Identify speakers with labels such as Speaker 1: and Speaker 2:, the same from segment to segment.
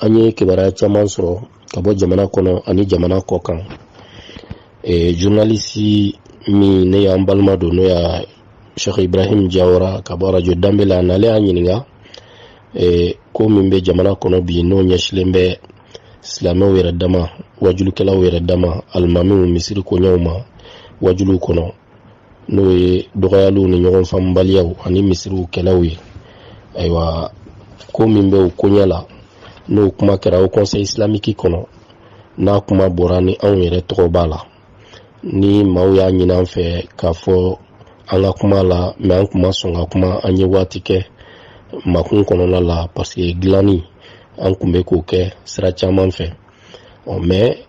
Speaker 1: an ye kibaruya caman sɔrɔ ka bɔ jamana kɔnɔ ani jamana kɔkan e, journalisi min ne y'an balima don n'o y'a sheikh ibrahim jawara ka bɔ arajo danbe la n'ale y'an ɲininka e, ko min bɛ jamana kɔnɔ bi n'o ɲɛsilen bɛ silamɛw yɛrɛ dama wajulukɛlaw yɛrɛ dama alimamiw misiri koɲɛw ma wajuliw kɔnɔ n'o ye dɔgɔyaliw ni ɲɔgɔn faamubaliyaw ani misiriw kɛlɛw ye ayiwa ko min bɛ o koɲɛ la n'o kuma kɛra haut conseil islamique kɔnɔ n'a kuma bɔra ni anw yɛrɛ tɔgɔ b'a la ni maaw y'a ɲin an fɛ k'a fɔ an ka kuma la mais an tun ma sɔn ka kuma an ye waati kɛ makun kɔnɔna la parce que dilanni an tun bɛ k'o kɛ sira caman fɛ ɔ mɛ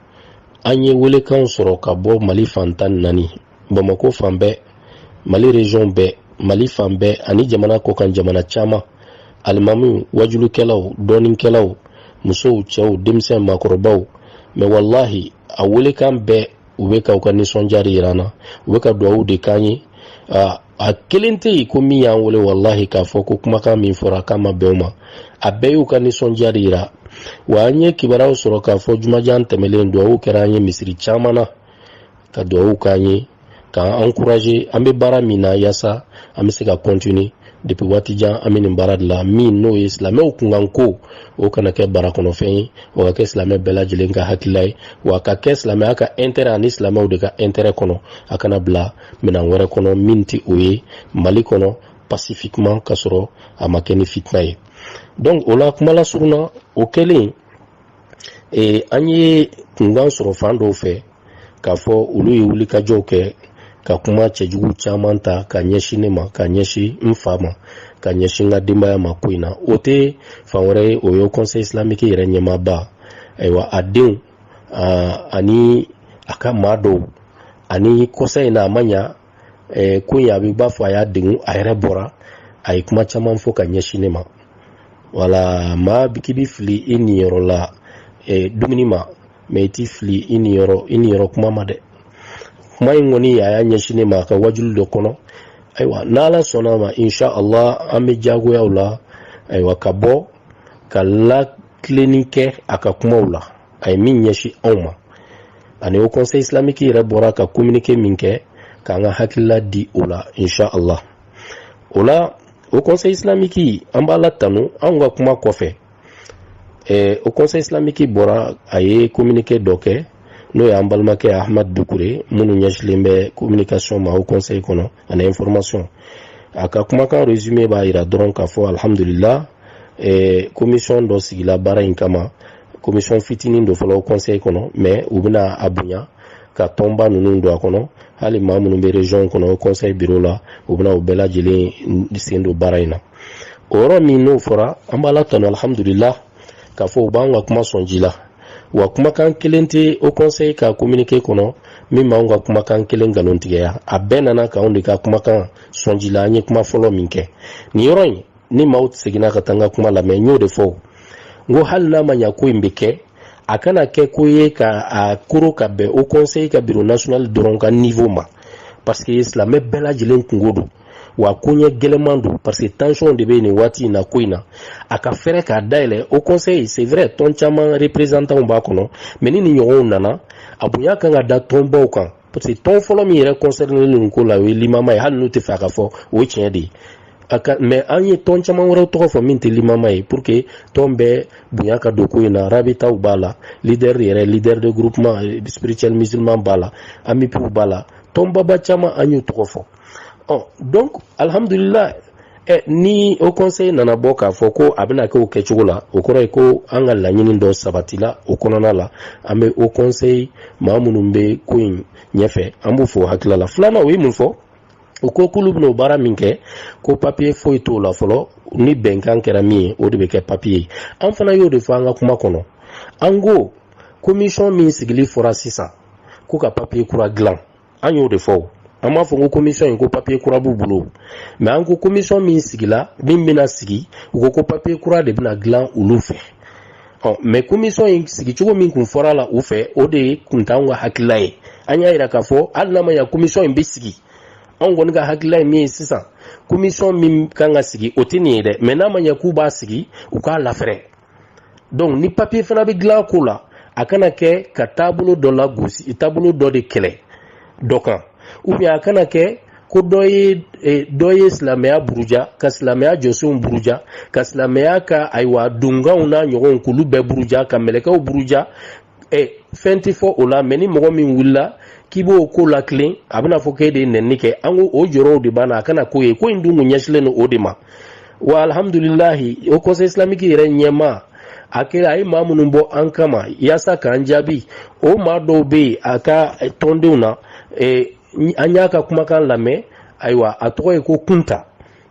Speaker 1: an ye welekanw sɔrɔ ka bɔ mali fan tan ni naani bamako fan bɛɛ mali région bɛɛ mali fan bɛɛ ani jamana kɔkan jamana caman alimamiw wajulukɛlaw dɔnnikɛlaw musow cɛw denmisɛn maakɔrɔbaw mais walahi a welekan bɛɛ u bɛ ka u ka nisɔndiya de yira an na u bɛ ka duwawu de k'an ye a kelen tɛ yen ko min y'an wele walahi k'a fɔ ko kumakan min fɔra k'a ma bɛn o ma a bɛɛ y'u ka nisɔndiya de yira wa an ye kibaruyaw sɔrɔ k'a fɔ jumajan tɛmɛlen dugawu kɛra an ye misiri caman na ka dugawu k'an ye k'an encourager an bɛ baara min na yaasa an bɛ se ka continuer depuis waati jan an bɛ nin baara de la min n'o ye silamɛw kunkan ko o kana kɛ bara kɔnɔfɛn ye o ka kɛ silamɛ bɛɛ lajɛlen ka hakilila ye wa ka kɛ silamɛya ka intérêt ani silamɛw de ka intérêt kɔnɔ a kana bila minɛn wɛrɛ kɔnɔ min tɛ o ye mali kɔnɔ pacifiquement ka sɔrɔ a ma kɛ ni fitina ye donc o la kuma lasurun na o kɛlen eh, an ye kunkan sɔrɔ fan dɔw fɛ k'a fɔ olu ye wulikajɔw kɛ ka kuma cɛjugu caman ta ka ɲɛsin ne ma ka ɲɛsin n fa ma ka ɲɛsin n ka denbaya ma ko in na o tɛ fan wɛrɛ ye o ye haut conseil islamique yɛrɛ ɲɛmaaba ayiwa a denw ani a ka maa dɔw ani kɔsa in na a ma ɲa ko in a bɛ b'a fɔ a y'a degun a yɛrɛ bɔra a ye kuma caman fɔ ka ɲɛsin ne ma wala maa k'i bɛ fili i niyɔrɔ la dumuni ma mais i tɛ fili i niyɔrɔ kuma ma dɛ kuma in kɔni a y'a ɲɛsin ne ma a ka wajulu dɔ kɔnɔ ayiwa n'ala sɔnna a ma insha allah an bɛ jagoya o la ayiwa ka bɔ ka latilenni kɛ a ka kumaw la a ye min ɲɛsin anw ma ani haut conseil islamique yɛrɛ bɔra ka communiqué min kɛ k'an ka hakilila di o la insha allah o la haut conseil islamique an b'ala tanu anw ka kuma kɔfɛ eh, haut conseil islamique bɔra a ye communiqué dɔ kɛ n'o y'an balimakɛ ahmad dukure minnu ɲɛsilen bɛ communication ma haut conseil kɔnɔ ani information a ka kumakan résumé b'a yira dɔrɔn k'a fɔ alhamdulila eh, commission dɔ sigila baara in kama commission fitinin don fɔlɔ haut conseil kɔnɔ mais u bɛna a bonya ka tɔnba ninnu don a kɔnɔ hali maa minnu bɛ region kɔnɔ haut conseil bureau la u bɛna u bɛɛ lajɛlen sen don baara in na o yɔrɔ min n'o fɔra an b'ala tanu alhamdulila k'a fɔ u b'an ka kuma sɔn ji la wa kumakan kelen tɛ haut conseil ka kominike kɔnɔ min b'an ka kumakan kelen nkalontigɛya a bɛɛ nana k'anw de ka kumakan sɔn ji la an ye kuma fɔlɔ min kɛ nin yɔrɔ in ni maaw seginna ka taa n ka kuma lamɛn n y'o de fɔ n ko hali n'a ma ɲa ko in bɛ kɛ a kana kɛ ko ye ka a kuru ka bɛn haut conseil ka biro national dɔrɔn ka niveau ma parce que silamɛ bɛɛ lajɛlen kunko don wa koɲɛ gɛlɛman don parce que tension de bɛ nin waati in na ko in na a k'a fɛrɛ k'a dayɛlɛ haut conseil c'est vrai tɔn caman représentanw b'a kɔnɔ mais ni nin ɲɔgɔnw nana a bonya kan ka da tɔnbaw kan parce que tɔn fɔlɔ min yɛrɛ concerné nin ko la o ye limama ye hali n'u t'a fɛ a ka fɔ o ye tiɲɛ de ye a ka mais an ye tɔn caman wɛrɛw tɔgɔ fɔ min tɛ limama ye pour que tɔn bɛɛ bonya ka don ko in na rabitaw b'a la leader yɛrɛ leader de groupement spirituel musulman b'a la amupiw b'a la tɔnbaba caman an y'u tɔgɔ fɔ ɔ donc alhamdulilayi ɛ ni haut conseil nana bɔ k'a fɔ ko a bɛna kɛ o kɛcogo la o kɔrɔ ye ko an ka laɲini dɔ sabatila o kɔnɔna la an bɛ haut conseil maa minnu bɛ ko in ɲɛfɛ an b'u fo hakilila la filanan u ye mun fɔ u ko k'olu bɛna o baara min kɛ ko papiye foyi t'o la fɔlɔ ni bɛnkan kɛra min ye o de bɛ kɛ papiye ye an fana y'o de fɔ an ka kuma kɔnɔ an ko komisɔn min sigili fɔra sisan ko ka papiye kura dilan an y'o de fɔ an m'a fɔ ko komisɔn in ko papiye kura b'u bolo mais an ko komisɔn min sigila min bɛna sigi u ko ko papiye kura de bɛna dilan olu fɛ ɔ mais komisɔn in sigicogo min kun fɔra la u fɛ o de kun t'anw ka hakilila ye an y'a yira k'a fɔ hali n'a ma ɲa komisɔn in bɛ sigi anw kɔni ka hakilila ye min ye sisan komisɔn min kan ka sigi o tɛ nin ye dɛ mais n'a ma ɲɛ k'u b'a sigi u k'a lafɛrɛ donc ni papiye fana bɛ dilan ko la a kana kɛ ka taabolo dɔ lagosi taabolo dɔ de kɛlɛ dɔ kan ou bien a kana kɛ ko dɔ ye e, dɔ ye silamɛya buruja ka silamɛya jɔsenw buruja ka silamɛya ka ayiwa donkanw n'a ɲɔgɔnw k'olu bɛɛ buruja ka mɛlɛkɛw buruja ɛ fɛn tɛ fɔ o la mais ni mɔgɔ min wulila k'i b'o ko latilen a bɛna fɔ k'e de ye nɛni kɛ an ko o jɔrɔw de b'an na a kana k'o ye ko in dun kun ɲɛsilen don o de ma wa alihamudulilahi haut conseil islamique yɛrɛ ɲɛmaa a kɛra a ye maa minnu bɔ an kama yaasa k'an jaabi o maa dɔw bɛ yen a ka tɔndenw na an y'a ka kumakan lamɛn ayiwa a tɔgɔ ye ko kunta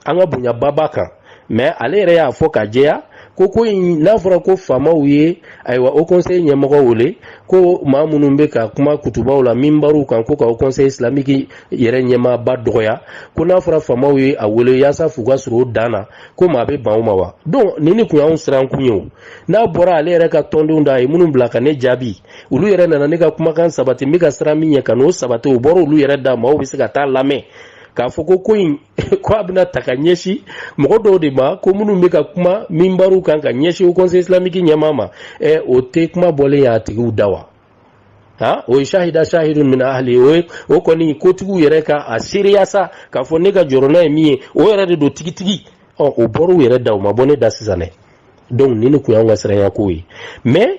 Speaker 1: an ka bonyaba b'a kan mais ale yɛrɛ y'a fɔ ka jɛya ko ko in n'a fɔra ko faamaw ye ayiwa haut conseil ɲɛmɔgɔ wele ko maa minnu bɛ ka kuma kutubaw la minbaruw kan ko ka haut conseil islamique yɛrɛ ɲɛmaaba dɔgɔya ko n'a fɔra faamaw ye a wele yaasa f'u ka sɔrɔ o dan na ko maa bɛ ban o ma wa donc nin de kun y'anw siran kun ye o n'a bɔra ale yɛrɛ ka tɔndenw da a ye minnu bila ka ne jaabi olu yɛrɛ nana ne ka kumakan sabati n bɛ ka siran min ɲɛ ka n'o sabati o bɔra olu yɛrɛ da maaw bɛ se ka t'a lamɛn k'a fɔ ko ko in ko a bɛna ta ka ɲɛsin mɔgɔ dɔw de ma ko minnu bɛ ka kuma minbaruw kan ka ɲɛsin haut conseil islamique ɲɛmaa ma ɛ o tɛ kuma bɔlen y'a tigiw da wa ha o ye sahida sahidun min ahli o ye o kɔni kotigiw yɛrɛ ka a seereya sa k'a fɔ ne ka jɔrɔna ye min ye o yɛrɛ de don tigitigi ɔ o bɔr'u yɛrɛ da o ma bɔ ne da sisan dɛ donc nin de kun y'anw ka siranyako ye mais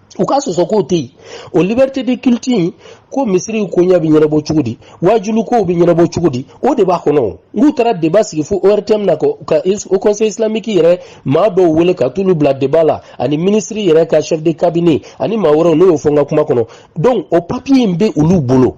Speaker 1: u ka sɔsɔ k'o tɛ yen o liberté de culte in ko misiriw koɲɛ bɛ ɲɛnabɔ cogo di waajulu kow bɛ ɲɛnabɔ cogo di o de b'a kɔnɔ n'u taara débat sigi fo ortm na ka haut conseil islamique yɛrɛ maa dɔw wele ka t'olu bila débat la ani minisiri yɛrɛ ka chef de cabinet ani maa wɛrɛw ne y'o fɔ n ka kuma kɔnɔ donc o papier in bɛ olu bolo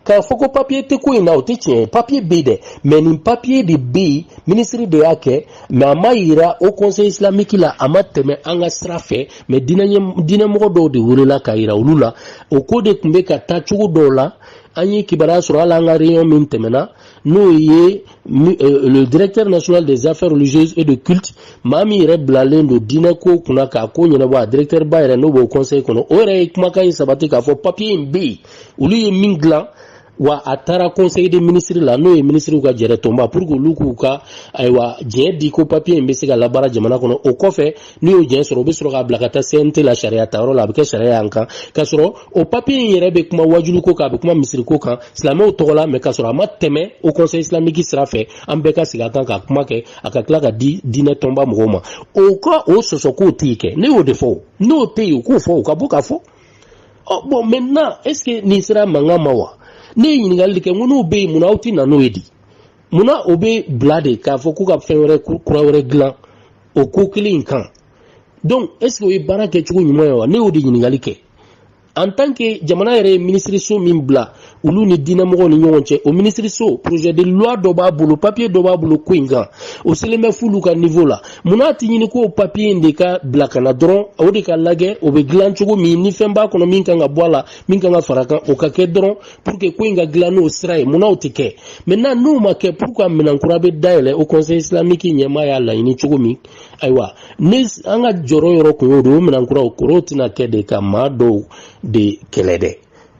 Speaker 1: K'a fɔ ko papiye tɛ ko in na o tɛ tiɲɛ ye papiye bɛ yen dɛ mais nin papiye de bɛ yen minisiri de y'a kɛ mais a ma yira haut conseil islamique la a ma tɛmɛ an ka sira fɛ mais diinɛmɔgɔ dɔw de welela k'a yira olu la o ko de tun bɛ ka taa cogo dɔw la an ye kibaruya sɔrɔ hali an ka réunion min tɛmɛna n'o ye euh, le directeur national des affaires religieuses et de culte maa min yɛrɛ bilalen don diinɛ ko kunna k'a ko ɲɛnabɔ a directeur ba yɛrɛ n'o bɛ haut conseil kɔnɔ o yɛrɛ ye kumakan in sabati k'a fɔ papier in bɛ yen olu ye min dilan wa a taara conseil des ministres la n'o ye minisiriw ka jɛrɛ tɔnba pour que olu k'u ka ayiwa jɛn di ko papiye in bɛ se ka labaara jamana kɔnɔ o kɔfɛ n'u y'o jɛn sɔrɔ u bɛ sɔrɔ k'a bila ka taa cnt la sariya ta yɔrɔ la a bɛ kɛ sariya y'an kan k'a sɔrɔ o papiye in yɛrɛ bɛ kuma waajulu ko kan a bɛ kuma misiri ko kan silamɛw tɔgɔ la mais k'a sɔrɔ a ma tɛmɛ haut conseil islamique sira fɛ an bɛɛ ka sigi a kan ka kuma kɛ a ka tila ka di diinɛ tɔnba mɔgɔw ma u ka o sɔsɔ k'o tɛ yen kɛ ne y'o de fɔ n'o tɛ yen u k'o fɔ u ka bɔ k'a fɔ ɔ bon maintenant est-ce que nin sera mankan ma wa ne ye ɲininkali de kɛ n ko n'o bɛ yen munna aw tɛ na n'o ye di munna o bɛ bila de k'a fɔ k'u ka fɛn wɛrɛ kura wɛrɛ dilan o ko kelen in kan donc est-ce que o ye baara kɛcogo ɲuman ye wa ne y'o de ɲininkali kɛ en tant que jamana yɛrɛ ye minisiriso min bila olu ni diinɛmɔgɔw ni ɲɔgɔn cɛ o minisiriso projet de loi dɔ b'a bolo papiye dɔ b'a bolo ko in kan o selen bɛ f'olu ka niveau la munna a ti ɲini ko papiye in de ka bila ka na dɔrɔn o de ka lajɛ o bɛ dilan cogo min ni fɛn b'a kɔnɔ min kan ka bɔ a la min kan ka fara kan o ka kɛ dɔrɔn pour que ko in ka dilan n'o sira ye munna o tɛ kɛ maintenant n'o ma kɛ pour que minɛn kura bɛ dayɛlɛ haut conseil islamique ɲɛmaa y'a laɲini cogo min ayiwa ni an ka jɔyɔrɔ yɔrɔ kun y'o de ye o minɛn kuraw kɔrɔ tɛna kɛ de ka maa dɔw de kɛlɛ dɛ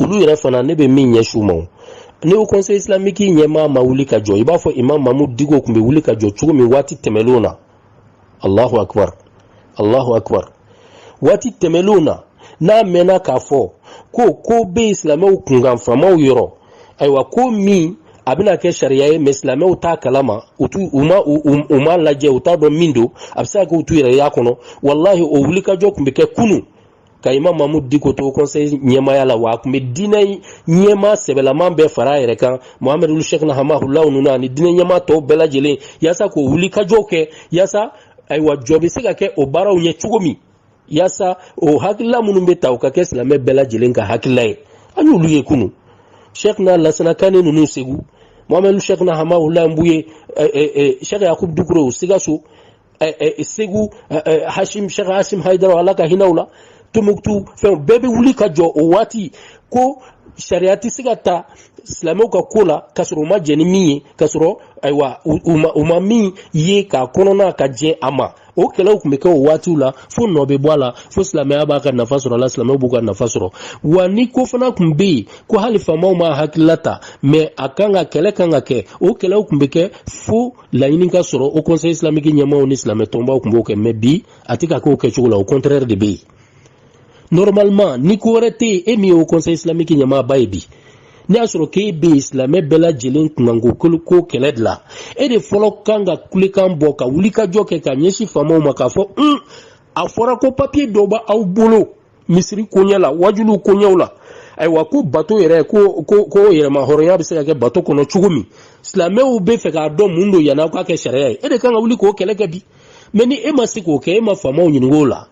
Speaker 1: olu yɛrɛ fana ne bɛ min ɲɛsin u ma ni haut conseil islamique ɲɛmaa ma wuli ka jɔ i b'a fɔ imam mahmud diko tun bɛ wuli ka jɔ cogo min waati tɛmɛnlenw na allahu akbar allahu akbar waati tɛmɛnlenw na n'a mɛnna k'a fɔ ko ko bɛ silamɛw kunkan faamaw yɔrɔ ayiwa ko min a bɛna kɛ sariya ye mais silamɛw t'a kalama u t'u u ma u u ma lajɛ u t'a dɔn min don a bɛ se ka kɛ u t'u yɛrɛ y'a kɔnɔ walahi o wulikajɔ tun bɛ kɛ kunun ka imam mahmud diko to conseil ɲɛmaaya la wa a tun bɛ diinɛ ɲɛmaa sɛbɛlaman bɛɛ fara a yɛrɛ kan mohamadu sheikhna hamahulaw ninnu ani diinɛ ɲɛmaa tɔw bɛɛ lajɛlen yaasa k'o wulikajɔw kɛ yaasa ayiwa jɔ bɛ se ka kɛ o baaraw ɲɛ cogo min yaasa o hakilila minnu bɛ ta o ka kɛ silamɛ bɛɛ lajɛlen ka hakilila ye an y'olu ye kunun sheikhna lasana kane ninnu segu mohamadu sheikhna hamahula buye sheikh yakubu dukure o sikaso eh, eh, segu eh, eh, hashim shekh hashim haidara ala ka hin'a la tombouctou fɛnw bɛɛ bɛ wuli ka jɔ o waati ko sariya tɛ se ka ta silamɛw ka ko la k'a sɔrɔ u ma jɛn ni min ye k'a sɔrɔ ayiwa u ma min ye k'a kɔnɔna ka jɛ a ma o kɛlɛw tun bɛ kɛ o waatiw la fo nɔ bɛ bɔ a la fo silamɛya b'a ka nafa sɔrɔ a la silamɛw b'u ka nafa sɔrɔ wa ni ko fana tun bɛ yen ko hali faamaw ma hakilila ta mais a kan ka kɛlɛ kan ka kɛ o kɛlɛw tun bɛ kɛ fo laɲini ka sɔrɔ haut conseil islamique ɲɛmaaw ni silamɛ tɔnbaw tun b'o kɛ mais bi a tɛ ka k'o kɛcogo la o contraire de bɛ yen normalement ni ko wɛrɛ tɛ yen e min ye haut conseil islamique ɲɛmaaba ye bi n'a y'a sɔrɔ k'e bɛ yen silamɛ bɛɛ lajɛlen kunkanko ko kɛlɛ de la e de fɔlɔ kan ka kulekan bɔ ka wulikajɔ kɛ ka ɲɛsin faamaw ma k'a fɔ un a fɔra ko papiye dɔ b'aw bolo misiri koɲɛ la wajuliw koɲɛw la ayiwa ko bato yɛrɛ ko ko ko yɛrɛmahɔrɔnya bɛ se ka kɛ bato kɔnɔ cogo min silamɛw b'a fɛ k'a dɔn mun don yan'aw k'a kɛ sariya ye e de kan ka wuli k'o kɛlɛ kɛ bi mais ni e ma se k'o kɛ e ma faamaw ɲininka o la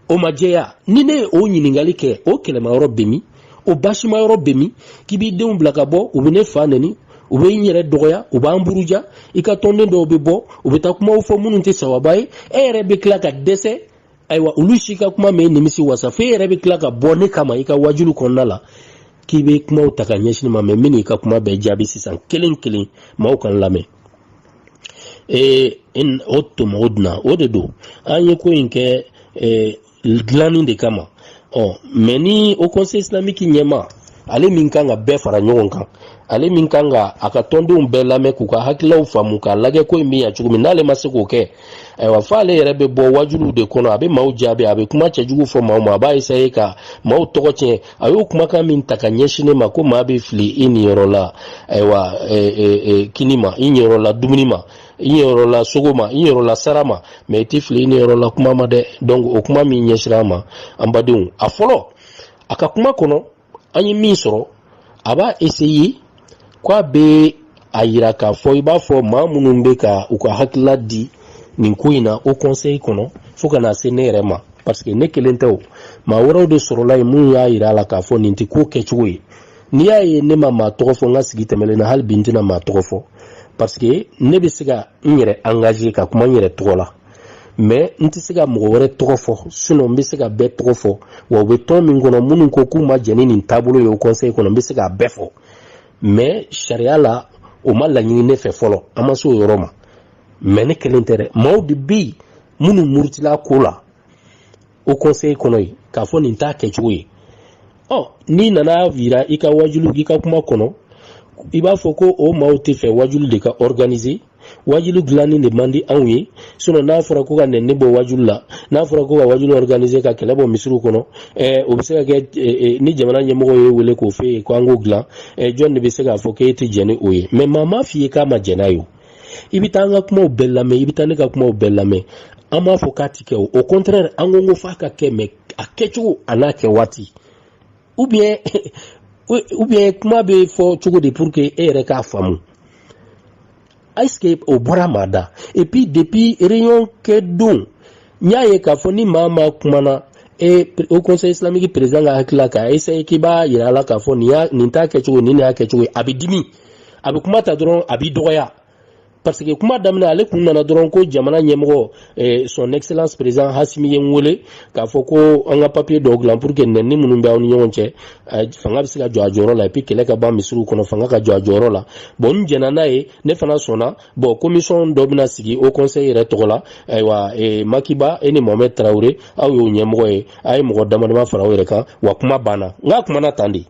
Speaker 1: o ma jɛya ni ne ye o ɲininkali kɛ o kɛlɛmayɔrɔ bɛ min o basimayɔrɔ bɛ min k'i b'i denw bila ka bɔ u bɛ ne fa neni u bɛ n yɛrɛ dɔgɔya u b'an buruja i ka tɔnden dɔw bɛ bɔ u bɛ taa kumaw fɔ minnu tɛ sawaba ye e yɛrɛ bɛ tila ka dɛsɛ ayiwa olu si ka kuma m'e nimisi wasa fo e yɛrɛ bɛ tila ka bɔ ne kama i ka wajulu kɔnɔna la k'i bɛ kumaw ta ka ɲɛsin n ma mais n bɛn'i ka kuma bɛɛ jaabi sisan kelen kelen maaw k'an lamɛn ee o to mɔgɔ dunna o de don an ye ko in kɛ ee dilanni de kama ɔ mais ni haut conseil islamique ɲɛmaa ale min kan ka bɛɛ fara ɲɔgɔn kan ale min kan ka a ka tɔndenw bɛɛ lamɛn k'u ka hakililaw faamu k'a lajɛ ko in bɛ ɲa cogo min n'ale ma se k'o kɛ ayiwa f'ale yɛrɛ bɛ bɔ wajuluw de kɔnɔ a bɛ maaw jaabi a bɛ kuma cɛjugu fɔ maaw ma a b'a essayer ka maaw tɔgɔ tiɲɛ a y'o kumakan min ta ka ɲɛsin ne ma ko maa bɛ fili i niyɔrɔ la ayiwa kini ma i niyɔrɔ la dumuni ma i yɔrɔ la sogo ma i yɔrɔ la sara ma mais i tɛ fili i niyɔrɔ la kuma ma dɛ donc o kuma min ɲɛsira ma an badenw a fɔlɔ a ka kuma kɔnɔ an ye min sɔrɔ a b'a essayer k'a bɛ a yira k'a fɔ i b'a fɔ maa minnu bɛ ka u ka hakilila di nin ko in na haut conseil kɔnɔ fo ka na se ne yɛrɛ ma parce que ne kelen tɛ o maa wɛrɛw de sɔrɔla yen minnu y'a yira a la k'a fɔ nin tɛ ko kɛcogo ye n'i y'a ye ne ma maa tɔgɔ fɔ n ka sigi tɛmɛlen na hali bi n tɛna maa tɔgɔ fɔ parce que ne bɛ se ka n yɛrɛ engager ka kuma n yɛrɛ tɔgɔ la mais n tɛ se ka mɔgɔ wɛrɛ tɔgɔ fɔ sinon n bɛ se ka bɛɛ tɔgɔ fɔ wa u bɛ tɔn min kɔnɔ minnu ko k'u ma jɛn ni nin taabolo ye haut conseil kɔnɔ n bɛ se k'a bɛɛ fɔ mais sariya la o ma laɲini ne fɛ fɔlɔ an ma se o yɔrɔ ma mais ne kelen tɛ dɛ maaw de bɛ yen minnu murutila ko la haut conseil kɔnɔ yen k'a fɔ nin t'a kɛcogo ye ɔ n'i nan'a yira i ka wajulu i ka kuma kɔnɔ i b'a fɔ ko o maaw t'a fɛ wajulu de ka organiser wajulu dilanni de man di anw ye sinon n'a fɔra ko ka nɛni bɔ wajulu la n'a fɔra ko ka wajulu organiser ka kɛlɛ bɔ misiriw kɔnɔ eh, o bɛ se ka kɛ eh, eh, ni jamana ɲɛmɔgɔ y'e wele k'o f'e ye ko an k'o dilan eh, jɔn de bɛ se k'a fɔ k'e tɛ jɛn ni o ye mais maa m'a f'i ye k'a ma jɛn n'a ye o i bɛ taa an ka kumaw bɛɛ lamɛn i bɛ taa ne ka kumaw bɛɛ lamɛn an b'a fɔ k'a ti kɛ o au contraire an ko ko f'a ka kɛ mais a kɛcogo an'a kɛwaati ou bien ou bien kuma bɛ fɔ cogo de pour que e yɛrɛ k'a faamu est-ce que o bɔra maa da et puis depuis réunion kɛ don n y'a ye k'a fɔ ni maa maa kumana e haut conseil islamique président ka hakilila k'a essayer k'i b'a yira a la k'a fɔ nin y'a nin t'a kɛcogo nin de y'a kɛcogo ye a bɛ dimi a bɛ kuma ta dɔrɔn a b'i dɔgɔya parce que kuma daminɛ ale kun nana dɔrɔn ko jamana ɲɛmɔgɔ eh, son excellence président assimi ye n wele k'a fɔ ko an ka papier dɔw dilan pour que nɛni minnu bɛ aw ni ɲɔgɔn cɛ eh, fanga bɛ se ka jɔ a jɔyɔrɔ la et puis kɛlɛ ka ban misiriw kɔnɔ fanga ka jɔ a jɔyɔrɔ la bon n jɛnna n'a ye ne fana sɔnna bon commission dɔ bɛna sigi haut conseil yɛrɛ tɔgɔ la ayiwa eh, maki ba e ni mohamed tarawele aw y'o ɲɛmɔgɔ ye a ye mɔgɔ damadama fara aw yɛrɛ kan wa kuma banna n k'a kumana tan de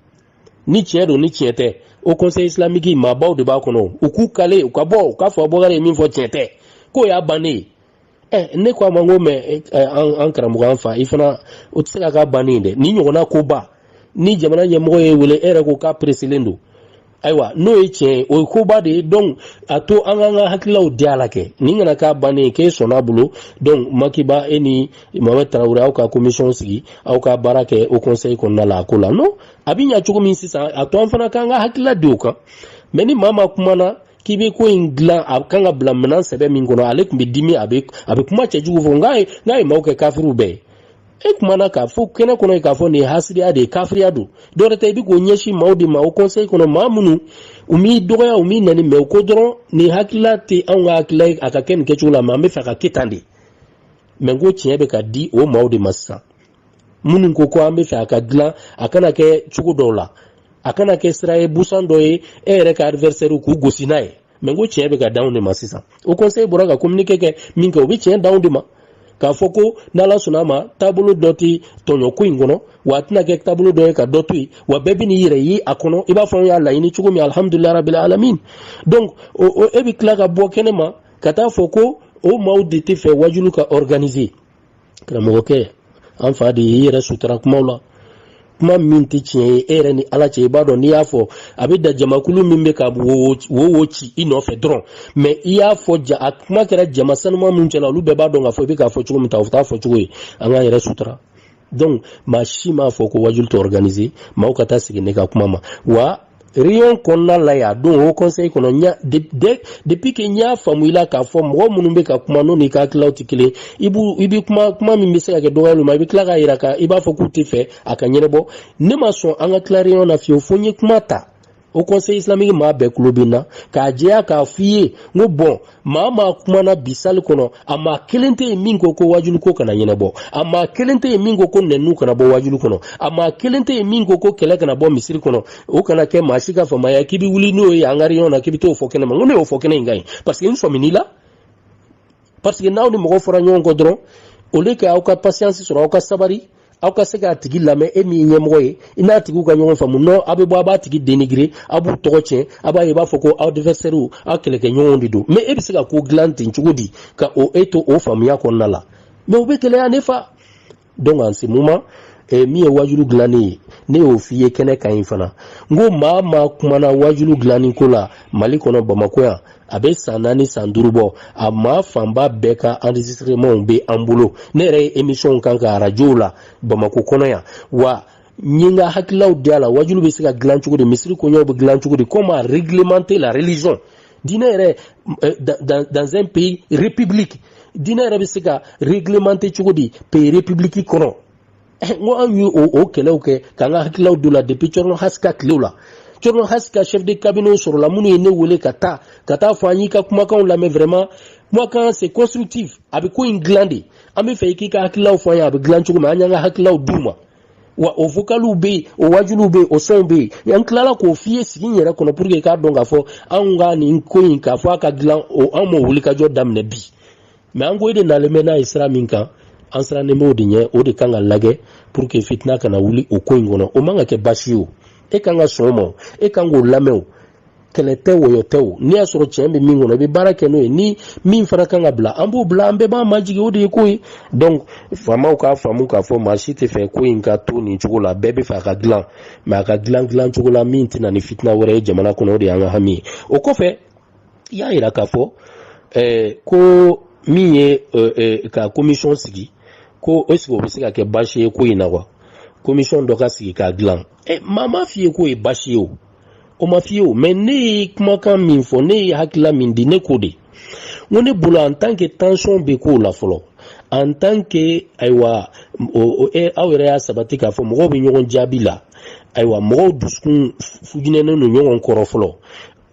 Speaker 1: ni tiɲɛ don ni tiɲɛ tɛ haut conseil islamique maabaw de b'a kɔnɔ u k'u kale u ka bɔ u k'a fɔ bɔkari ye min fɔ tiɲɛ tɛ k'o y'a bannen ye ɛ ne ko a ma n ko mais an karamɔgɔ an fa i fana o tɛ se ka k'a bannen ye dɛ nin ɲɔgɔnna koba ni jamana ɲɛmɔgɔ y'e wele e yɛrɛ ko k'a presselen don ayiwa n'o ye tiɲɛ ye o ye koba de ye donc a to an k'an ka hakililaw di a la kɛ nin kana k'a bannen ye k'e sɔnna a bolo donc maki ba e ni Mohamed tarawele aw ka komisɔn sigi aw ka baara kɛ o kɔnsɛyi kɔnɔna la a ko la non a bɛ ɲɛ cogo min sisan a to an fana k'an ka hakilila di o kan mɛ ni maa maa kumana k'i bɛ ko in dilan a kan ka bila minɛn sɛbɛn min kɔnɔ ale tun bɛ dimi a bɛ a bɛ kuma cɛjugu fɔ n'a ye n'a ye maaw kɛ kafiriw bɛɛ ye e kumana k'a fɔ kɛnɛ kɔnɔ k'a fɔ nin ye hasidiya de ye kafiriya don dɔwɛrɛ tɛ i bɛ k'o ɲɛsin maaw de ma o kɔnsɛyi kɔnɔ maa minnu u m'i dɔgɔya u m'i nɛni mɛ u ko dɔrɔn nin hakilila tɛ anw ka hakilila ye a ka kɛ nin kɛcogo la mɛ an bɛ fɛ ka kɛ tan de mɛ n ko tiɲɛ bɛ ka di o maaw de ma sisan minnu ko ko an bɛ fɛ a ka dilan a kana kɛ cogo dɔw la a kana kɛ sira ye busan dɔ ye e yɛrɛ ka adivɛrisɛriw k'u gosi n'a ye mɛ n ko tiɲɛ bɛ ka d'anw de ma sisan o kɔnsɛyi bɔra ka kominike kɛ min kɛ o bɛ tiɲɛ d'anw de ma k'a fɔ ko n'ala sɔnna a ma taabolo dɔ tɛ tɔɲɔ ko in kɔnɔ wa a tɛna kɛ taabolo dɔ ye ka dɔ to yen wa bɛɛ bɛ n'i yɛrɛ ye a kɔnɔ i b'a fɔ an y'a laɲini cogo min alihamudulilayi rabili alamin donc e bɛ tila ka bɔ kɛnɛ ma ka taa fɔ ko o maaw de tɛ fɛ wajulu ka organiser karamɔgɔkɛ an fa de ye i yɛrɛ sutura kumaw la kuma min tɛ tiɲɛ ye e yɛrɛ ni ala cɛ i b'a dɔn n'i y'a fɔ a bɛ da jamakulu min bɛ ka wo wo ci i nɔfɛ dɔrɔn mɛ i y'a fɔ ja a kuma kɛra jama sanuma min cɛla olu bɛɛ b'a dɔn k'a fɔ i bɛ k'a fɔ cogo min ta o t'a fɔcogo ye an k'an yɛrɛ sutura donc maa si m'a fɔ ko wajulu tɛ organiser maaw ka taa segin ne ka kuma ma wa réunion kɔnɔna la yan don o conseil kɔnɔ ɲa de, de, depuis que n y'a faamu i la k'a fɔ mɔgɔ minnu bɛ ka kuma n'o n'i ka hakililaw tɛ kelen i b'u i bɛ kuma kuma min bɛ se ka kɛ dɔgɔyaliw ma i bɛ tila k'a jira ka i b'a fɔ k'u tɛ fɛ a ka ɲɛnabɔ ne ma sɔn an ka tila réunion na fiyewu fo n ye kuma ta o kɔnsɛyi islamiki maa bɛɛ kulo bɛ n na k'a jɛya k'a f'i ye n ko bɔn maa maa kumana bi sali kɔnɔ a maa kelen tɛ yen min ko ko wajulu ko kana ɲɛnabɔ a maa kelen tɛ yen min ko ko nɛnnu kana bɔ wajulu kɔnɔ a maa kelen tɛ yen min ko ko kɛlɛ kana bɔ misiri kɔnɔ o kana kɛ maa si ka faamuya k'i bɛ wuli n'o ye an ka réunion na k'i bɛ t'o fɔ kɛnɛ ma n ko ne y'o fɔ kɛnɛ in kan yen paseke n sɔmin'i la parce que n'aw ni mɔgɔ fɔra ɲɔgɔn kɔ dɔrɔn au lieu que aw ka patience sɔrɔ aw ka sabari aw ka se k'a tigi lamɛn e min ye ɲɛmɔgɔ ye i n'a tigiw ka ɲɔgɔn faamu non aw bɛ bɔ a b'a tigi dénigrer aw b'u tɔgɔ tiɲɛ a b'a ye i b'a fɔ ko aw adversaires aw kɛlɛkɛɲɔgɔnw de don mais e bɛ se ka ko dilan ten cogo di ka o e to o faamuya kɔnɔna la mais o bɛ gɛlɛya ne fa donc en ce moment eh, min ye wajulu dilanni ye ne y'o f'i ye kɛnɛ kan yen fana n ko maa maa kumana wajulu dilanni ko la mali kɔnɔ bamakɔ yan a bɛ san naani san duuru bɔ a maa fanba bɛɛ ka enregistrement bɛ an bolo ne yɛrɛ ye émissionw k'a kan arajow la bamakɔ kɔnɔ yan wa n ye n ka hakililaw di a la wajulu bɛ se ka dilan cogo di misiri koɲɛw bɛ dilan cogo di comment réglementer la religion diinɛ yɛrɛ euh, dans, dans un pays république diinɛ yɛrɛ bɛ se ka réglementer cogo di pays république kɔnɔ eh, n ko an y'o o kɛlɛw kɛ k'an ka hakililaw don la depuis cɔrɔnɔ hasi ka tilew la cɔrɔnɔ hasi ka chef de cabinet sɔrɔla minnu ye ne wele ka taa ka taa fɔ an y'i ka kumakanw lamɛn vraiment kumakan c'est constructif a bɛ ko in dilan de an bɛ fɛ i k'i ka hakililaw fɔ an ye a bɛ dilan cogo min an y'an ka hakililaw d'u ma wa o vocaliw bɛ yen o waajuliw bɛ yen o sɔnw bɛ yen an tilala k'o f'i ye sigi in yɛrɛ kɔnɔ pour que i k'a dɔn k'a fɔ anw ka nin ko in k'a fɔ a ka dilan o anw m'o wulikajɔ daminɛ bi mais an ko e de nalen bɛ n'a ye sira min kan an sirannen b'o de ɲɛ o de kan ka lajɛ pour que fitina kana wuli o ko in kɔnɔ o man ka kɛ baasi ye o e kan ka sɔn o ma o e kan k'o lamɛn o kɛlɛ tɛ wɔyɔ tɛ o n'i y'a sɔrɔ tiɲɛ bɛ min kɔnɔ i bɛ baara kɛ n'o ye ni min fana kan ka bila an b'o bila an bɛɛ b'an majigin o de ye ko ye donc faamaw k'a faamu k'a fɔ maa si tɛ fɛ ko in ka to nin cogo la bɛɛ bɛ fɛ a ka dilan mais a ka dilan dilan cogo la min tɛna ni fitina wɛrɛ ye jamana kɔnɔ o de y'an ka hami ye o kɔfɛ i y'a jira k'a fɔ ɛɛ ko min ye ɛɛ ka commission sigi ko est ce que o bɛ se ka kɛ baasi ye ko in na wa commission dɔ ka sigi k'a dilan ɛ maa m'a f'i ye k'o ye baasi ye o. o ma f'i ye o mais ne ye kumakan min fɔ ne ye hakilila min di ne k'o de n ko ne bolo en tant que tension bɛ ko la fɔlɔ en tant que ayiwa o e aw yɛrɛ y'a sabati k'a fɔ mɔgɔw bɛ ɲɔgɔn jaabi la ayiwa mɔgɔw dusukun fujinɛnen don ɲɔgɔn kɔrɔ fɔlɔ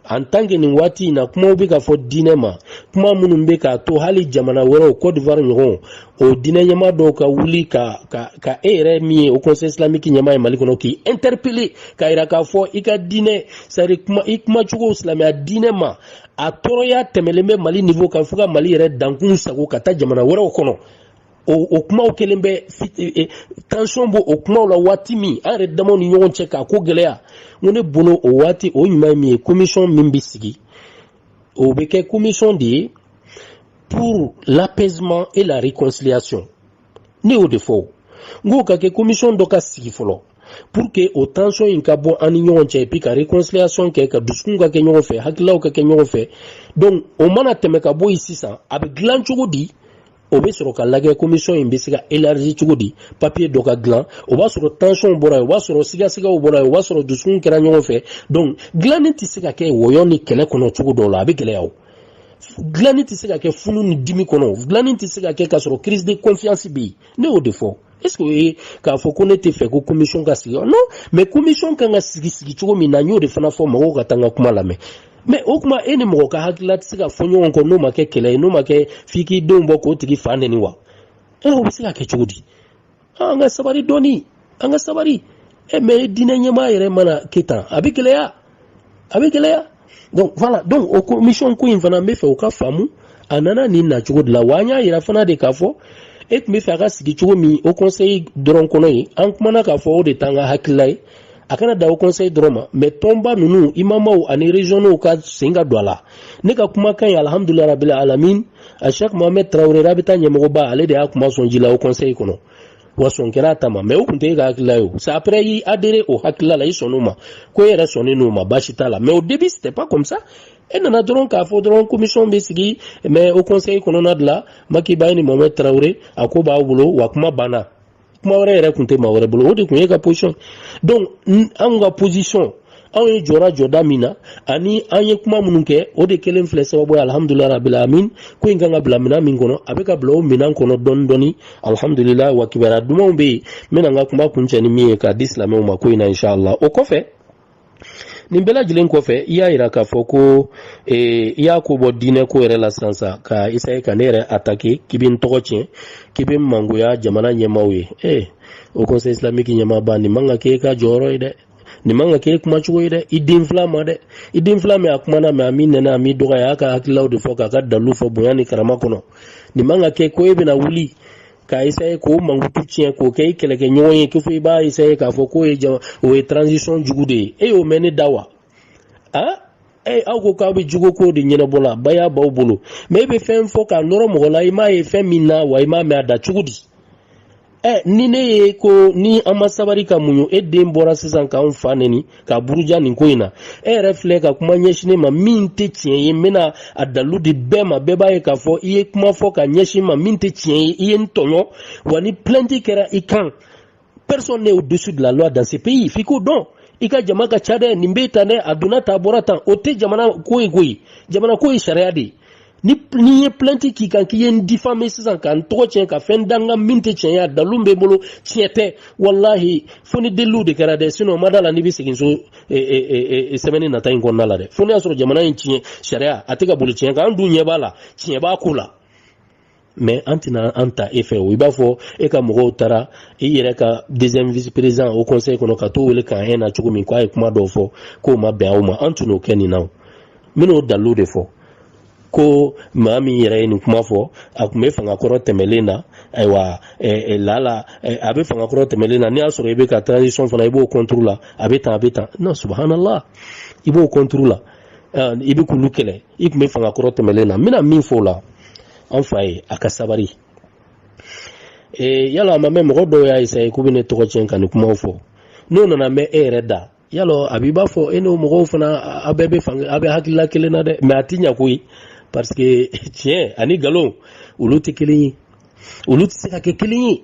Speaker 1: en tant que nin waati in na kumaw bɛ ka fɔ diinɛ ma kuma minnu bɛ k'a to hali jamana wɛrɛw Côte d'Ivoire ɲɔgɔnw o diinɛ ɲɛmaa dɔw ka wuli ka ka ka e yɛrɛ min ye Haut Conseil islamique ɲɛmaa ye Mali kɔnɔ k'i interpeller k'a yira k'a fɔ i ka diinɛ c'est à dire kuma i kuma cogo silamɛya diinɛ ma a tɔɔrɔya tɛmɛlen bɛ Mali niveau kan fo ka Mali yɛrɛ dankun sagon ka taa jamana wɛrɛw kɔnɔ o o kumaw kelen bɛ e, e, tension b'o o kumaw la waati min an yɛrɛ damaw ni ɲɔgɔn cɛ k'a ko gɛlɛya n ko ne bolo o waati o ɲuman ye min ye commission min bɛ sigi o bɛ kɛ commission de ye pour l'apaisement et la réconciliation ne y'o de fɔ o n k'o ka kɛ commission dɔ ka sigi fɔlɔ pour que o tension in ka bɔ an ni ɲɔgɔn cɛ et puis ka réconciliation kɛ ka dusukun ka kɛ ɲɔgɔn fɛ hakililaw ka kɛ ɲɔgɔn fɛ donc o mana tɛmɛ ka bɔ yen sisan a bɛ dilan cogo di o bɛ sɔrɔ ka lajɛ commission in bɛ se ka élargi cogo di papier dɔ ka dilan o b'a sɔrɔ tension bɔra yen o b'a sɔrɔ sigasigaw bɔra yen o b'a sɔrɔ dusukun kɛra ɲɔgɔn fɛ donc dilanni tɛ se ka kɛ wɔyɔ ni kɛlɛ kɔnɔ cogo dɔw la a bɛ gɛlɛya o dilanni tɛ se ka kɛ funu ni dimi kɔnɔ dilanni tɛ se ka kɛ k'a sɔrɔ crise de confiance bɛ yen ne y'o de fɔ est ce que o ye k'a fɔ ko ne tɛ fɛ ko commission ka sigi non mais commission kan ka sigi sigi cogo min na n y'o de fana fɔ mɔgɔw ka taa n ka kuma lamɛn mais o kuma e ni mɔgɔ ka hakilila tɛ se ka fɔ ɲɔgɔn kɔ n'o ma kɛ kɛlɛ ye n'o ma kɛ f'i k'i denw bɔ k'o tigi fa neni wa ɛ o bɛ se ka kɛ cogo di ah, an ka sabari dɔɔni an ka sabari e mais diinɛ ɲɛmaa yɛrɛ mana kɛ tan a bɛ gɛlɛya a bɛ gɛlɛya donc voilà donc o commission ko in fana n bɛ fɛ aw k'a faamu a nana nin na cogo de la wa an y'a yira fana de k'a fɔ e tun bɛ fɛ a ka sigi cogo min haut conseil dɔrɔn kɔnɔ yen an kumana k'a fɔ o de t'an ka hakilila ye a kana dan haut conseil dɔrɔn ma mais tɔnba ninnu imamaw ani regionw ka sen ka don a la ne ka kumakan ye alhamdulilayi rabil alamin a shek mohamed tarawele rabita ɲɛmɔgɔba ale de y'a kuma sɔn ji la haut conseil kɔnɔ wa sɔn kɛra a ta ma mais o kun tɛ e ka hakilila ye o c'est après i adere o hakilila la i sɔnn'o ma ko e yɛrɛ sɔnnen n'o ma baasi t'a la mais au début c'était pas comme ça e nana dɔrɔn k'a fɔ dɔrɔn commission bɛ sigi mais haut conseil kɔnɔna de la maki ba e ni mohamed tarawele a ko b'aw bolo wa kuma banna kuma wɛrɛ yɛrɛ kun tɛ maa wɛrɛ bolo o de kun y'e ka position donc anw ka position anw ye jɔra jɔda min na ani an ye kuma minnu kɛ o de kelen filɛ sababu ye alhamdulila rabil alamin ko in kan ka bila minɛn min kɔnɔ a bɛ ka bila o minɛn kɔnɔ dɔɔni dɔɔni alhamdulila wa kibaruya dumanw bɛ yen n bɛna n ka kuma kuncɛ ni min ye k'a di silamɛw ma ko in na inshallah o kɔfɛ nin bɛɛ lajɛlen kɔfɛ i y'a yira k'a fɔ ko e, i y'a ko bɔ diinɛ ko yɛrɛ la sisan sa ka essaye ka ne yɛrɛ atake k'i bɛ n tɔgɔ tiɲɛ k'i bɛ n mangoya jamana ɲɛmaaw ye ee eh, haut conseil islamique ɲɛmaaba nin man ka k'e ka jɔyɔrɔ ye dɛ nin man ka k'e kuma cogo ye dɛ i den fila ma dɛ i den fila min a kumana mais a ma n neni a ma n dɔgɔya a y'a ka hakililaw de fɔ k'a ka dalilu fɔ bonya ni karama kɔnɔ nin man ka kɛ ko e bɛna wuli k'a essaye k'o mankutu tiɲɛ k'o kɛ i kɛlɛkɛ ɲɔgɔn ye kɛ fo i b'a essaye k'a fɔ k'o ye jama o ye transition jugu de ye e y'o mɛn ne da wa a e aw ko k'aw bɛ jogo ko de ɲɛnabɔ la baya b'aw bolo mais e bɛ fɛn fɔ k'a nɔrɔ mɔgɔ la i m'a ye fɛn min na wa i m'a mɛn a da cogo di ɛ ni ne ye ko ni an ma sabari ka muɲu e den bɔra sisan k'anw fa neni k'a buruja nin ko in na e yɛrɛ filɛ ka kuma ɲɛsin ne ma min tɛ tiɲɛ ye n bɛna a dalu di bɛɛ ma bɛɛ b'a ye k'a fɔ i ye kuma fɔ k'a ɲɛsin n ma min tɛ tiɲɛ ye i ye n tɔɲɔ wa ni plainte kɛra i kan personne n'est au-dessus de la loi dans ce pays f'i k'o dɔn i ka jama ka ca dɛ nin bɛ tan dɛ a donna tan a bɔra tan o tɛ jamana ko ye koyi jamana ko ye sariya de ye ni n ye plainte k'i kan k'i ye n difame sisan ka n tɔgɔ tiɲɛ ka fɛn da n kan min tɛ tiɲɛ ye a dalu bɛ n bolo tiɲɛ tɛ walahi fo ni deliliw de kɛra dɛ sinon n ma da a la n'i bɛ segin so e, e, e, semaine nata in kɔnɔna la dɛ fo n'i y'a sɔrɔ jamana in tiɲɛ sariya a tɛ ka boli tiɲɛ kan an dun ɲɛ b'a la tiɲɛ b'a ko la mais an tɛna an ta e fɛ o i b'a fɔ e ka mɔgɔw taara i yɛrɛ ka deuxième vice président haut conseil kɔnɔ ka t'o wele k'an ɲɛ na cogo min k'a ye kuma dɔw fɔ k'o ma bɛn aw ma an tun n'o kɛ nin na o n bɛn'o dalilu de fɔ ko maa min yɛrɛ ye nin kuma fɔ a tun bɛ fanga kɔrɔ tɛmɛlen na ayiwa lala a bɛ fanga kɔrɔ tɛmɛlen na n'i y'a sɔrɔ i bɛ ka transition fana i b'o kɔnturu la a bɛ tan a bɛ tan na subhanallah i b'o kɔnturu la i bɛ k'olu kɛlɛ i tun bɛ fanga kɔrɔ tɛmɛlen na n bɛna min fɔ o la an f'a ye a ka sabari yalɔ a ma mɛn mɔgɔ dɔw y'a essayer k'u bɛ ne tɔgɔ tiɲɛ ka nin kumaw fɔ n'o nana mɛn e yɛrɛ da yalɔ a b'i b'a fɔ e n'o mɔgɔw fana a bɛɛ bɛ fan a bɛ hakilila kelen na dɛ mais a ti ɲɛ koyi parce que tiɲɛ ani nkalon olu tɛ kelen ye olu tɛ se ka kɛ kelen ye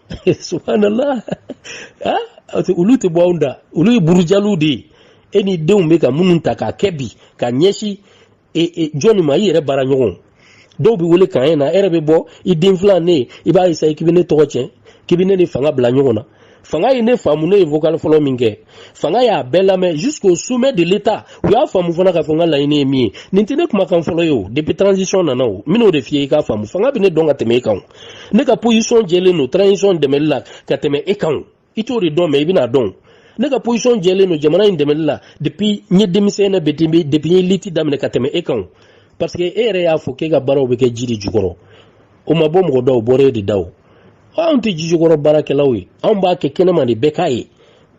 Speaker 1: subhanallah olu tɛ bɔ anw da olu ye burujaliw de ye e n'i denw bɛ ka minnu ta k'a kɛ bi ka ɲɛsin e, e, jɔnni ma i yɛrɛ baara ɲɔgɔn dɔw bɛ wele k'an ye na e yɛrɛ bɛ bɔ i den filan ne i b'a essayer k'i bɛ ne tɔgɔ cɛn k'i bɛ ne ni fanga bila ɲɔgɔn na fanga ye ne faamu ne ye vocal fɔlɔ min kɛ fanga y'a bɛɛ lamɛn jusqu'au sommet de l'état u y'a faamu fana k'a fɔ n ka laɲini ye min ye nin tɛ ne kumakan fɔlɔ ye o depuis transition nana o n bɛn'o de f'i ye i k'a faamu fanga bɛ ne dɔn ka tɛmɛ e kan o ne ka position jɛlen don transition dɛmɛli la ka tɛmɛ e kan o i t'o de dɔn mais i bɛn'a dɔn ne ka position jɛlen don jamana in dɛmɛli la depuis n ye denmisɛn na depuis n ye lutte daminɛ ka tɛmɛ e kan parce que e yɛrɛ y'a fɔ k'e ka baaraw bɛ kɛ ji de jukɔrɔ o ma bɔ mɔgɔ da o bɔra e de da o anw tɛ jijukɔrɔ baarakɛlaw ye anw b'a kɛ kɛnɛma de bɛɛ k'a ye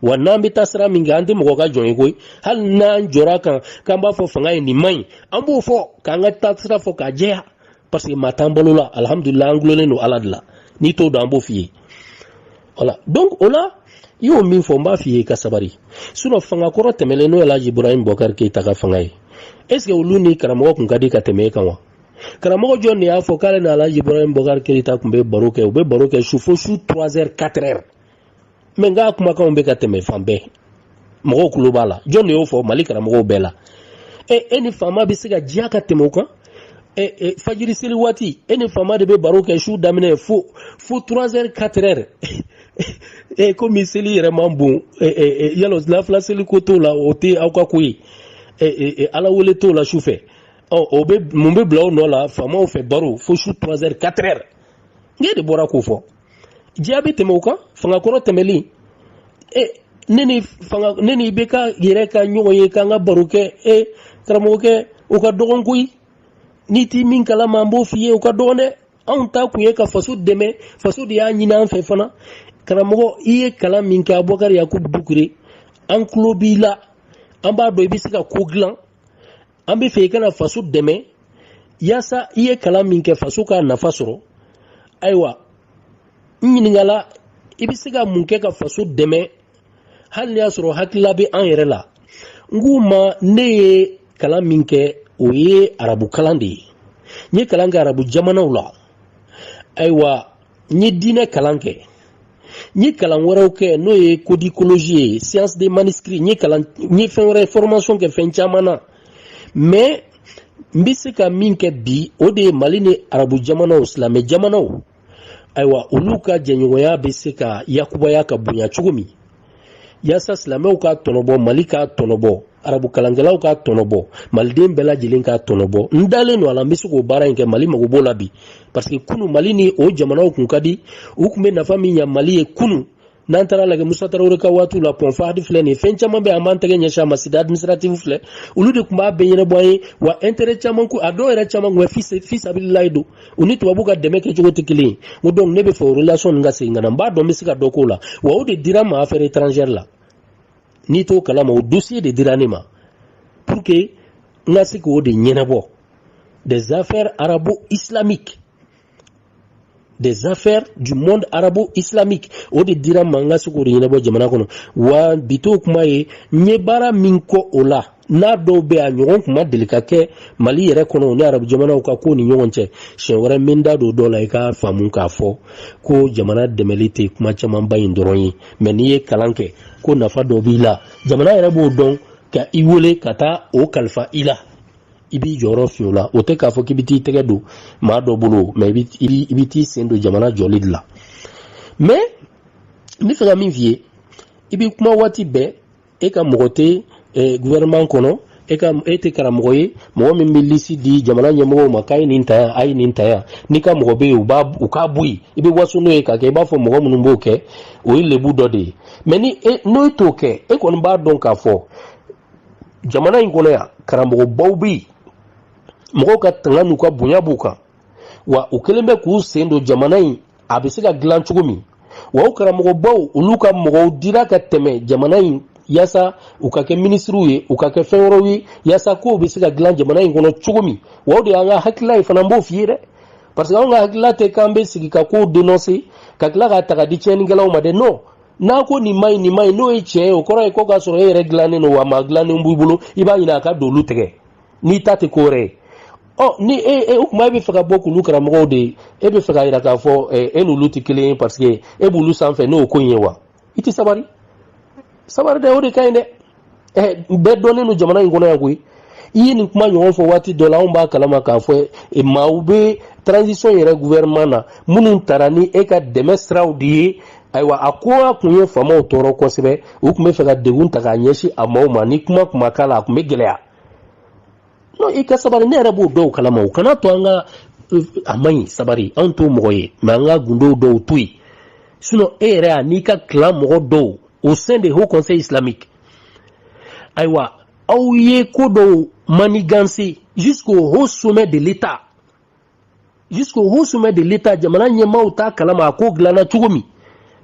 Speaker 1: wa n'an bɛ taa sira min kɛ an tɛ mɔgɔ ka jɔn ye koyi hali n'an jɔra k'an k'an b'a fɔ fanga ye nin man ɲi an b'o fɔ k'an ka taasira fɔ k'a jɛya parce que maa t'an balo la alihamudulila an gulonlen don ala de la n'i t'o dɔn an b'o f'i ye voilà donc o la i y'o min fɔ n b'a f'i ye i ka sabari sinon fanga kɔrɔ tɛmɛlen n'o ye alhaji ibrahim bɔkari keyita ka fanga ye est ce que olu ni karamɔgɔ kun ka di ka tɛmɛ e kan wa karamɔgɔ jɔn de y'a fɔ k'ale ni alaji ibrahim bɔkari keyita tun bɛ baro kɛ u bɛ baro kɛ su fo su 3 heures 4 heures mais n k'a kumakanw bɛ ka tɛmɛ fan bɛɛ mɔgɔw kulo b'a la jɔn de y'o fɔ mali karamɔgɔw bɛɛ la e e ni faama bɛ se ka diya ka tɛmɛ o kan e, e, fajiri seli waati e ni faama de bɛ baro kɛ su daminɛ fo fo 3 heures 4 heures e komi seli yɛrɛ man bon e, e, e, yala lafila seli ko t'o la o tɛ aw ka ko ye e, e, e, ala wele t'o la su fɛ ɔ o bɛ mun bɛ bila o nɔ la faamaw fɛ baro fo su trois heures quatre heures ne de bɔra k'o fɔ diya bɛ tɛmɛ o kan fanga kɔrɔ tɛmɛlen e ne ni fanga ne ni ibk yɛrɛ ka ɲɔgɔn ye k'an ka baro kɛ e karamɔgɔkɛ o ka dɔgɔn koyi n'i ti min kalama an b'o f'i ye o ka dɔgɔn dɛ anw taa kun ye ka faso dɛmɛ faso de y'a ɲini an fɛ fana karamɔgɔ i ye kalan min kɛ abubakari yakubu dukure an tulo b'i la an b'a dɔn i bɛ se ka ko dilan an b'a fɛ i ka na faso dɛmɛ yaasa i ye kalan min kɛ faso k'a nafa sɔrɔ ayiwa n ɲininkala i bɛ se ka mun kɛ ka faso dɛmɛ hali n'i y'a sɔrɔ hakilila bɛ an yɛrɛ la n k'u ma ne ye kalan min kɛ o ye arabu kalan de ye n ye kalan kɛ arabu jamanaw la ayiwa n ye diinɛ kalan kɛ n ye kalan wɛrɛw kɛ n'o ye codicologie ye science des manuscrits n ye kalan n ye fɛn wɛrɛ formation kɛ fɛn caman na mais n bɛ se ka min kɛ bi o de ye mali ni arabu jamanaw silamɛ jamanaw ayiwa olu ka jɛɲɔgɔnya bɛ se ka yakubaya ka bonya cogo min yasa silamɛw ka tɔnɔbɔ mali ka tɔnɔbɔ arabu kalankɛlaw ka tɔnɔbɔ maliden bɛɛ lajɛlen ka tɔnɔbɔ n dalen don a la n bɛ se k'o baara in kɛ mali mago b'o la bi parce que kunu mali ni o jamanaw kun ka di u tun bɛ nafa min ɲa mali ye kunu n'an taara lajɛ musa tarawele ka waatiw la pont fahd filɛ nin ye fɛn caman bɛ an b'an tɛgɛ ɲɛsin a ma cité administrative filɛ olu de tun b'a bɛɛ ɲɛnabɔ an ye wa intérêt caman ko a dɔw yɛrɛ caman tun bɛ fisabililayi don u ni tubabu ka dɛmɛ kɛcogo tɛ kelen ye o donc ne bɛ fɛ o relation ninnu ka segin ka na n b'a dɔn n bɛ se ka dɔ k'o la wa o de dira n ma affaire étrangère la n'i t'o kalama o dossier de dira ne ma pour que n ka se k'o de ɲɛnabɔ des affaires arabo-islamiques des affaires du monde arabo-islamique o de dira n ma n ka se k'o de ɲɛnabɔ jamana kɔnɔ wa bi t'o kuma ye n ye baara min kɛ o la n'a dɔw bɛ a ɲɔgɔn kuma deli ka kɛ mali yɛrɛ kɔnɔ ni arabu jamanaw ka ko ni ɲɔgɔn cɛ siɲɛ wɛrɛ n bɛ n da don dɔ la i ka faamu k'a fɔ ko jamana dɛmɛli tɛ kuma camanba in dɔrɔn ye mais n'i ye kalan kɛ ko nafa dɔ b'i la jamana yɛrɛ b'o dɔn ka i wele ka taa o kalifa i la i b'i jɔyɔrɔ fa o la o tɛ k'a fɔ k'i bɛ t'i tɛgɛ don maa dɔ bolo mais i bɛ t'i sen don jamana jɔli de la mais n bɛ fɛ ka min f'i ye i bɛ kuma waati bɛɛ e ka mɔgɔ tɛ gouvernement kɔnɔ e ka e tɛ karamɔgɔ ye mɔgɔ min bɛ lisi di jamana ɲɛmɔgɔw ma k'a ye nin ta yan a ye nin ta yan n'i ka mɔgɔ bɛ yen u b'a u k'a bɔ yen i bɛ waso n'o ye k'a kɛ i b'a fɔ mɔgɔ minnu b'o kɛ o ye lebu dɔ de ye mais ni e n'o t'o kɛ e kɔni b'a dɔn k'a fɔ jamana in kɔnɔ yan karamɔgɔbaw bɛ yen mɔgɔw ka tanga n'u ka bonya b'u kan wa u kɛlen bɛ k'u sen don jamana in a bɛ se ka dilan cogo min wa o karamɔgɔbaw olu ka mɔgɔw dira ka tɛmɛ jamana in yasa u ka kɛ minisiriw ye u ka kɛ fɛn wɛrɛw ye yasa kow bɛ se ka dilan jamana in kɔnɔ cogo min wa o de y'an ka hakilila ye fana n b'o f'i ye dɛ parce que anw ka hakilila tɛ k'an bɛ sigi ka kow dénoncer ka tila k'a ta ka di tiɲɛnikɛlaw ma dɛ non n'a ko nin ma ɲi nin ma ɲi n'o ye tiɲɛ ye o kɔrɔ ye ko k'a sɔrɔ e yɛrɛ dilannen don wa maa dilannen b'i bolo i b'a ɲini a ka don olu tɛgɛ n'i ta tɛ ko wɛrɛ ye ɔ ni e e o kuma e bɛ fɛ ka bɔ k'olu karamɔgɔw de ye e bɛ fɛ k'a jira k'a fɔ ɛ e n'olu tɛ kelen ye parce que e b'olu sanfɛ n'o ko in ye wa i tɛ sabari sabari dɛ o de ka ɲi dɛ ɛ bɛɛ dɔnnen don jamana in kɔnɔ yan koyi i ye nin kuma ɲɔgɔn fɔ waati dɔ la anw b'a kalama k'a fɔ e, maaw bɛ transition yɛrɛ gouvernement na minnu tara ni e ka dɛmɛ siraw de ye ayiwa a ko a tun ye faamaw tɔɔrɔ kosɛbɛ u tun bɛ fɛ ka degun ta k'a ɲɛsin a maaw ma ni kuma tun ma k'a la a tun bɛ gɛlɛya non i ka sabari ne yɛrɛ b'o dɔw kalama u kana to an ka euh, a man ɲi sabari anw t'o mɔgɔ ye mais an ka gundow dɔw to yen sinon e yɛrɛ an'i ka clan mɔgɔ dɔw au sein de haut conseil islamique ayiwa aw ye ko dɔw manigancer jusqu'au haut sommet de l'état jusqu'au haut sommet de l'état jamana ɲɛmaaw t'a kalama a ko dilanna cogo min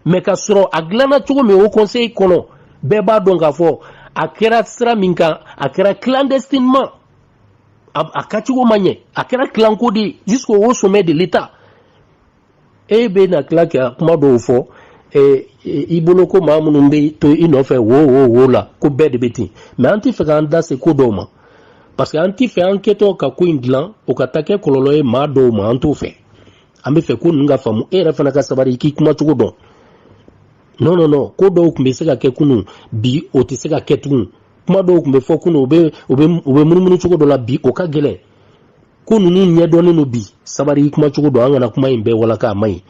Speaker 1: mais ka sɔrɔ a dilanna cogo min o conseil kɔnɔ bɛɛ b'a dɔn k'a fɔ a kɛra sira min kan a kɛra clandestinement a, a kacogo ma ɲɛ a kɛra clanko de ye jusqu'au haut sommet de l'état e bɛ na tila ka kuma dɔw fɔ i bolo ko maa minnu bɛ to i nɔfɛ wo wo wo la ko bɛɛ de bɛ ten mais an tɛ fɛ k'an da se ko dɔw ma parce que an tɛ fɛ an kɛtɔ ka ko in dilan o ka taa kɛ kɔlɔlɔ ye maa dɔw ma an t'o fɛ an bɛ fɛ ko ninnu ka faamu e yɛrɛ fana ka sabari i k'i kuma cogo dɔn non non non ko dɔw tun bɛ se ka kɛ kunun bi o tɛ se ka kɛ tugun kuma dɔw tun bɛ fɔ kunun u bɛ u bɛ u bɛ munumunu cogo dɔ la bi o ka gɛlɛn ko ninnu ɲɛdɔnnen don bi sabari i kuma cogo dɔn an kana kuma in bɛɛ walaka a man ɲi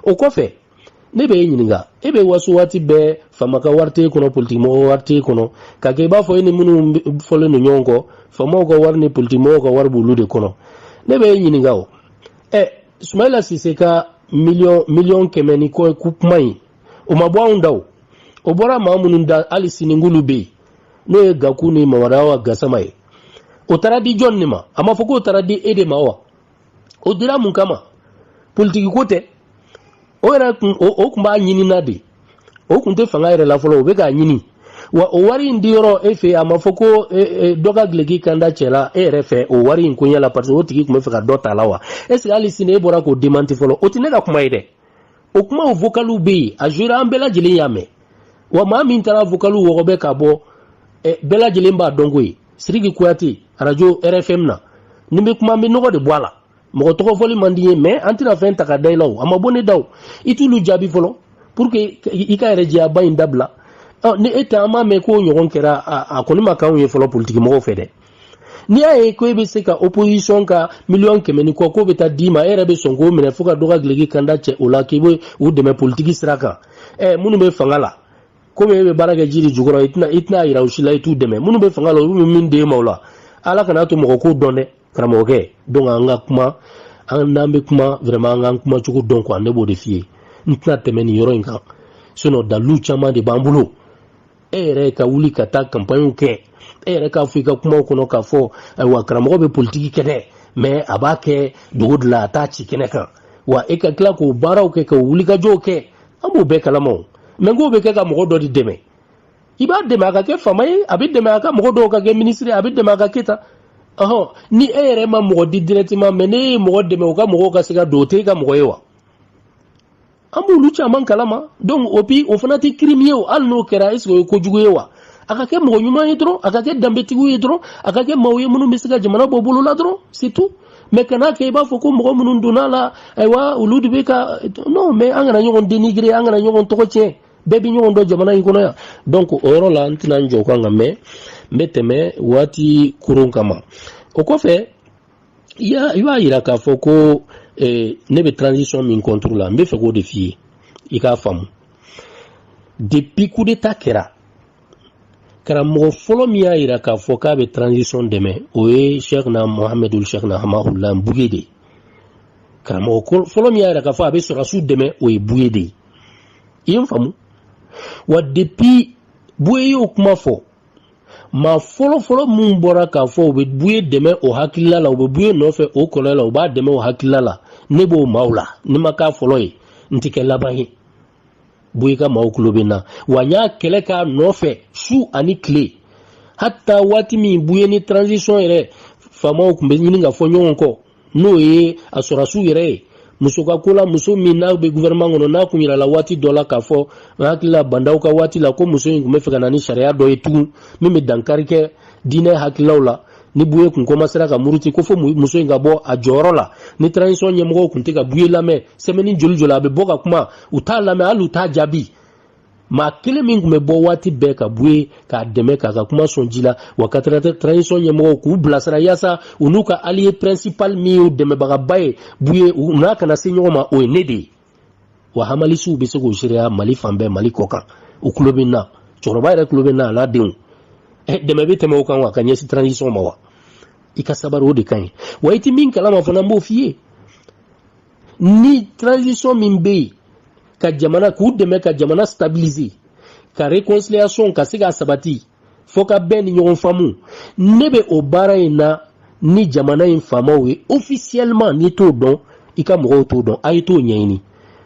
Speaker 1: o kɔfɛ ne bɛ e ɲininka e bɛ waso waati bɛɛ faama ka wari t'e kɔnɔ politikimɔgɔ wari t'e kɔnɔ ka kɛ i b'a fɔ e ni minnu fɔlen don ɲɔgɔn kɔ faamaw ka wari ni politikimɔgɔw ka wari b'olu de kɔnɔ ne bɛ e ɲininka o ɛ sumayila sise ka miliyɔn miliyɔn kɛmɛ ni kɔ kuma in o ma bɔ anw da o o bɔra maa minnu da hali sini olu bɛ yen n'o ye gaku ni mamadu awa gasama ye o taara di jɔn de ma a ma fɔ k'o taara di e de ma wa o dira mun kama politiki ko tɛ o yɛrɛ kun o kun b'a ɲini na de o kun tɛ fanga yɛrɛ la fɔlɔ o bɛ k'a ɲini wa o wari in di yɔrɔ e fɛ a ma fɔ ko e, e, dɔ ka gileki kanda cɛla e yɛrɛ fɛ o wari in koɲɛ la parce que o tigi tun bɛ fɛ ka dɔ ta la wa est ce que hali sini e bɔra k'o démenti fɔlɔ o tɛ ne ka kuma ye dɛ o kumaw vokaliw bɛ yen a jouera an bɛɛ lajɛlen y'a mɛn wa maa min taara vokaliw wɔgɔbɛ ka bɔ bɛɛ lajɛlen b'a dɔn k'o ye siriki kuyate arajo rfm na ni bɛ kuma an bɛ nɔgɔ de bɔ a la mɔgɔ tɔgɔ fɔli man di ye mais an tɛna fɛn ta ka da i la o a ma bɔ ne da o i t'olu jaabi fɔlɔ pour que i ka yɛrɛ jɛyaba in dabila ni e tɛ an m'a mɛn k'o ɲɔgɔn kɛra a kɔni ma k'anw ye fɔlɔ politikimɔgɔw fɛ dɛ n'i y'a ye ko e bɛ se ka opposition ka miliyɔn kɛmɛ ni kɔ k'o bɛ taa d'i ma e yɛrɛ bɛ sɔn k'o minɛ fo ka dɔ ka gileki kanda cɛ o la k'i bɛ u dɛmɛ politiki sira kan ɛ minnu bɛ fanga la komi e bɛ baara kɛ ji de jukɔrɔ i tɛna i tɛna yira u si la i t'u dɛmɛ minnu bɛ fanga la olu bɛ min d'e ma o la ala kana to mɔgɔ k'o dɔn dɛ karamɔgɔkɛ donc an ka kuma an n'an bɛ kuma vraiment an k'an kuma cogo dɔn quoi ne b'o de f'i ye n tɛna tɛmɛ nin yɔrɔ in kan sinon dalilu caman de b'an bolo e yɛrɛ ka wuli ka taa campagne kɛ e yɛrɛ k'a fɔ i ka kumaw kɔnɔ k'a fɔ ayiwa karamɔgɔ bɛ politigi kɛ dɛ mais a b'a kɛ dogo de la a t'a ci kɛnɛ kan wa e ka tila k'o baaraw kɛ ka wulikajɔw kɛ an b'o bɛɛ kalama o mais k'o bɛ kɛ ka mɔgɔ dɔ de dɛmɛ i b'a dɛmɛ a ka kɛ faama ye a bɛ dɛmɛ a ka mɔgɔ dɔw ka kɛ ministre a bɛ dɛmɛ a ka kɛ tan ɔhɔn ni e yɛrɛ ma mɔgɔ di directement mais ne ye mɔgɔ dɛmɛ o ka mɔgɔw ka se ka don o tɛ e ka mɔgɔ ye wa an b'olu caman kalama donc o fana tɛ crime ye o hali n'o kɛra est-ce que o ye kojugu ye wa a ka kɛ mɔgɔ ɲuman ye dɔrɔn a ka kɛ danbetigiw ye dɔrɔn a ka kɛ maaw ye minnu bɛ se ka jamana bɔ bolo la dɔrɔn c'est tout mais kana kɛ i b'a fɔ ko mɔgɔ minnu donna la ayiwa olu de bɛ ka non mais an kana ɲɔgɔn dénigrer an kana ɲɔgɔn tɔgɔ tiɲɛ bɛɛ bɛ ɲɔgɔn dɔn jamana in kɔnɔ yan donc o yɔrɔ la n tɛna n jɔ o kan nka mais n bɛ tɛmɛ waati koron kama o kɔfɛ i b'a yira k'a fɔ ko eh, ne bɛ transition min contre la n bɛ fɛ k'o de f'i ye i k'a faamu depuis coup d'état kɛra karamɔgɔ fɔlɔ min y'a yira k'a fɔ k'a bɛ transition dɛmɛ o ye cheikhna mohamed ould cheikhna hamahullah buye de ye karamɔgɔ fɔlɔ min y'a yira k'a fɔ a bɛ sɔrɔsiw dɛmɛ o ye buye de ye i ye n faamu wa depuis buye y'o kuma fɔ maa fɔlɔfɔlɔ minnu bɔra k'a fɔ u bɛ buye dɛmɛ o hakilila la u bɛ buye nɔfɛ o kɔlɔlɔ la u b'a dɛmɛ o hakilila la ne b'o maaw la ni n ma k'a fɔlɔ ye n tɛ kɛ laban ye buye ka maaw tulo bɛ n na wa n y'a kɛlɛ k'a nɔfɛ su ani tile hata waati min buye ni transition yɛrɛ faamaw tun bɛ ɲini ka fɔ ɲɔgɔn kɔ n'o ye a sɔrɔsiw yɛrɛ ye muso ka ko la muso min n'a bɛ gouvernement kɔnɔ n'a kun yirala waati dɔ la k'a fɔ n hakili la ba ndaw ka waati la ko muso in tun bɛ fɛ ka na ni sariya dɔ ye tugun min bɛ dankari kɛ diinɛ hakililaw la ni buye kun komasera ka muruti ko fo muso in ka bɔ a jɔyɔrɔ la ni transition ɲɛmɔgɔw kun tɛ ka buye lamɛn semaine joli joli a bɛ bɔ ka kuma u t'a lamɛn hali u t'a jaabi maa kelen min tun bɛ bɔ waati bɛɛ ka buye k'a dɛmɛ k'a ka kuma sɔn ji la wa ka transition ɲɛmɔgɔw k'u bilasira yaasa u n'u ka allié principal min y'u dɛmɛbagaba ye buye u n'a kana se ɲɔgɔn ma o ye ne de ye wa hamalisiw bɛ se k'o seereya mali fan bɛɛ mali kɔ kan u tulo bɛ n na cɛkɔrɔba yɛrɛ tulo bɛ n na a n'a denw eh, dɛmɛ bɛ tɛmɛ o kan wa ka ɲɛsin transition ma wa i ka sabari o de ka ɲi wa i tɛ min kalama fana n b'o f'i ye ni transition min bɛ yen ka jamana k'u dɛmɛ ka jamana stabiliser ka reconciliation ka se ka sabati fo ka bɛn ni ɲɔgɔn faamu ne bɛ o baara in na ni jamana in faamaw ye officiellement n'i t'o dɔn i ka mɔgɔw t'o dɔn a ye t'o ɲɛɲini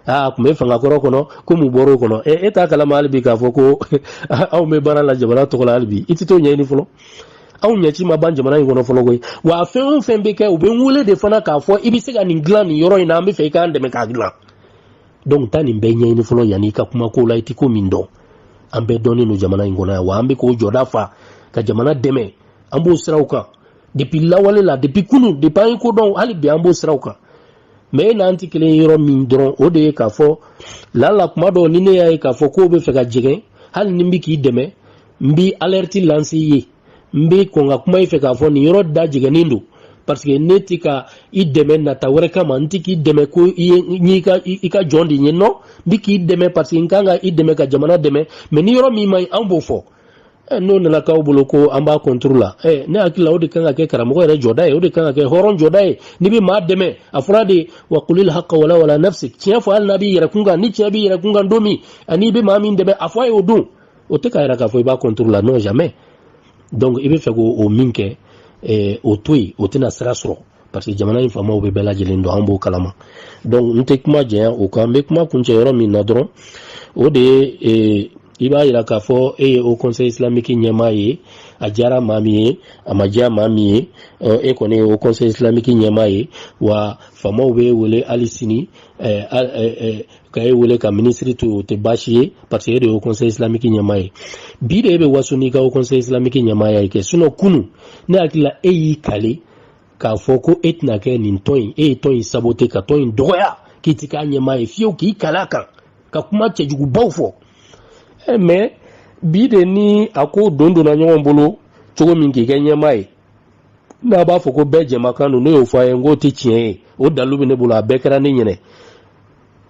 Speaker 1: aa tun bɛ fanga kɔrɔ kɔnɔ ko mun bɔra o kɔnɔ e t'a kalama hali bi k'a fɔ ko anw bɛ baara la jamana tɔgɔ la hali bi i tɛ t'o ɲɛɲini fɔlɔ anw ɲɛci ma ban jamana in kɔnɔ fɔlɔ koyi wa fɛn o fɛn bɛ kɛ u bɛ n wele de fana k'a fɔ i bɛ se ka nin dilan nin yɔrɔ in na an bɛ fɛ i k'an dɛmɛ k'a dilan donc taa nin bɛɛ ɲɛɲini fɔlɔ yanni i ka kuma ko la i tɛ ko min dɔn an bɛɛ dɔnnen don jamana in kɔnɔ yan wa an bɛ k'o jɔda fa ka jamana dɛmɛ an b'o siraw kan depuis lawale la depuis kunu depuis an ye ko dɔn hali bi an b'o siraw kan mais e n'an tɛ kelen ye yɔrɔ min dɔrɔn o de ye k'a fɔ lala kuma dɔw ni ne y'a ye k'a fɔ k'o bɛ fɛ ka jɛgɛn hali ni n bɛ k'i dɛmɛ n bɛ alerte lancer i ye n bɛ kɔn ka kuma i fɛ k'a fɔ nin yɔrɔ da jɛgɛnnen don parce que ne tɛ ka i dɛmɛ nata wɛrɛ kama n tɛ k'i dɛmɛ ko i ye n y'i ka i ka jɔn de ye non n bɛ k'i dɛmɛ parce que n kan ka i dɛmɛ ka jamana dɛmɛ mais ni yɔrɔ min man ɲi anw b'o fɔ eh, n'o nana k'aw bolo ko an b'a contre la eh, ne hakili la o de kan ka kɛ karamɔgɔ yɛrɛ jɔda ye o de kan ka kɛ hɔrɔn jɔda ye n'i bɛ maa dɛmɛ a fɔra de wa kulil haka walaw ala nafsik tiɲɛ fɔ hali n'a b'i yɛrɛ kun kan ni tiɲɛ b'i yɛrɛ kun kan don min ani i bɛ maa min dɛmɛ a fɔ a ye o don o tɛ k'a yira k'a fɔ i b'a contre la non jamais donc i bɛ fɛ k'o o min kɛ eh, o to yen o tɛna sira sɔrɔ parce que jamana in faamaw bɛ bɛɛ lajɛlen dɔn an b'o kalama donc n tɛ kuma janya o kan n bɛ kuma kuncɛ yɔrɔ min na dɔrɔn o de ye eh, i b'a yira k'a fɔ e ye haut conseil islamique ɲɛmaa ye a diyara maa min ye a ma diya maa min ye e kɔni ye haut conseil islamique ɲɛmaa ye wa faamaw b'e wele hali sini ka e wele ka minisiri to o tɛ baasi ye parce que e de ye haut conseil islamique ɲɛmaa ye bi de e bɛ waso n'i ka haut conseil islamique ɲɛmaaya ye kɛ sinon kunu ne hakili la e y'i kale k'a fɔ ko e tɛna kɛ nin tɔn in e ye tɔn in sabote ka tɔn in dɔgɔya k'i tɛ k'a ɲɛmaa ye fiyewu k'i kale a kan ka kuma cɛjugubaw fɔ eh, mais bi de ni a ko don donna ɲɔgɔn bolo cogo min k'i kɛ ɲɛmaa ye n'a b'a fɔ ko bɛɛ jɛmakan don ne y'o fɔ a ye n k'o tɛ tiɲɛ ye o dalu bɛ ne bolo a bɛɛ kɛra ne ɲɛna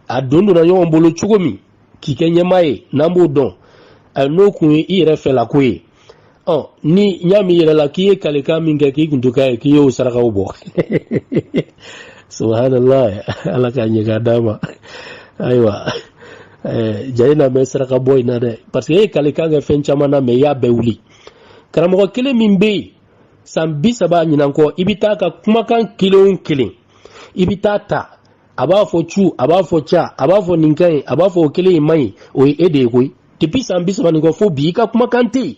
Speaker 1: a don donna ɲɔgɔn bolo cogo min k'i kɛ ɲɛmaa ye n'an b'o dɔn a n'o kun ye i yɛrɛ fɛla ko ye ɔ ni n y'a mɛn i yɛrɛ la k'i ye kalekan min kɛ k'i kun to k'a ye k'i y'o sarakaw bɔ subhanallah ala k'a ɲɛ k'a d'a ma ayiwa eh, jaa i na mɛɛn saraka bɔ in na dɛ parce que e ye kalekan kɛ fɛn caman na mais i y'a bɛɛ wuli karamɔgɔ kelen min bɛ yen san bi saba ɲinan kɔ i bɛ taa ka kumakan kelen o kelen i bɛ taa ta a b'a fɔ cu a b'a fɔ ca a b'a fɔ nin ka ɲi a b'a fɔ o kelen in man ɲi o ye e de ye koyi depuis san bi saba nin kɔ fo bi i ka kumakan tɛ yen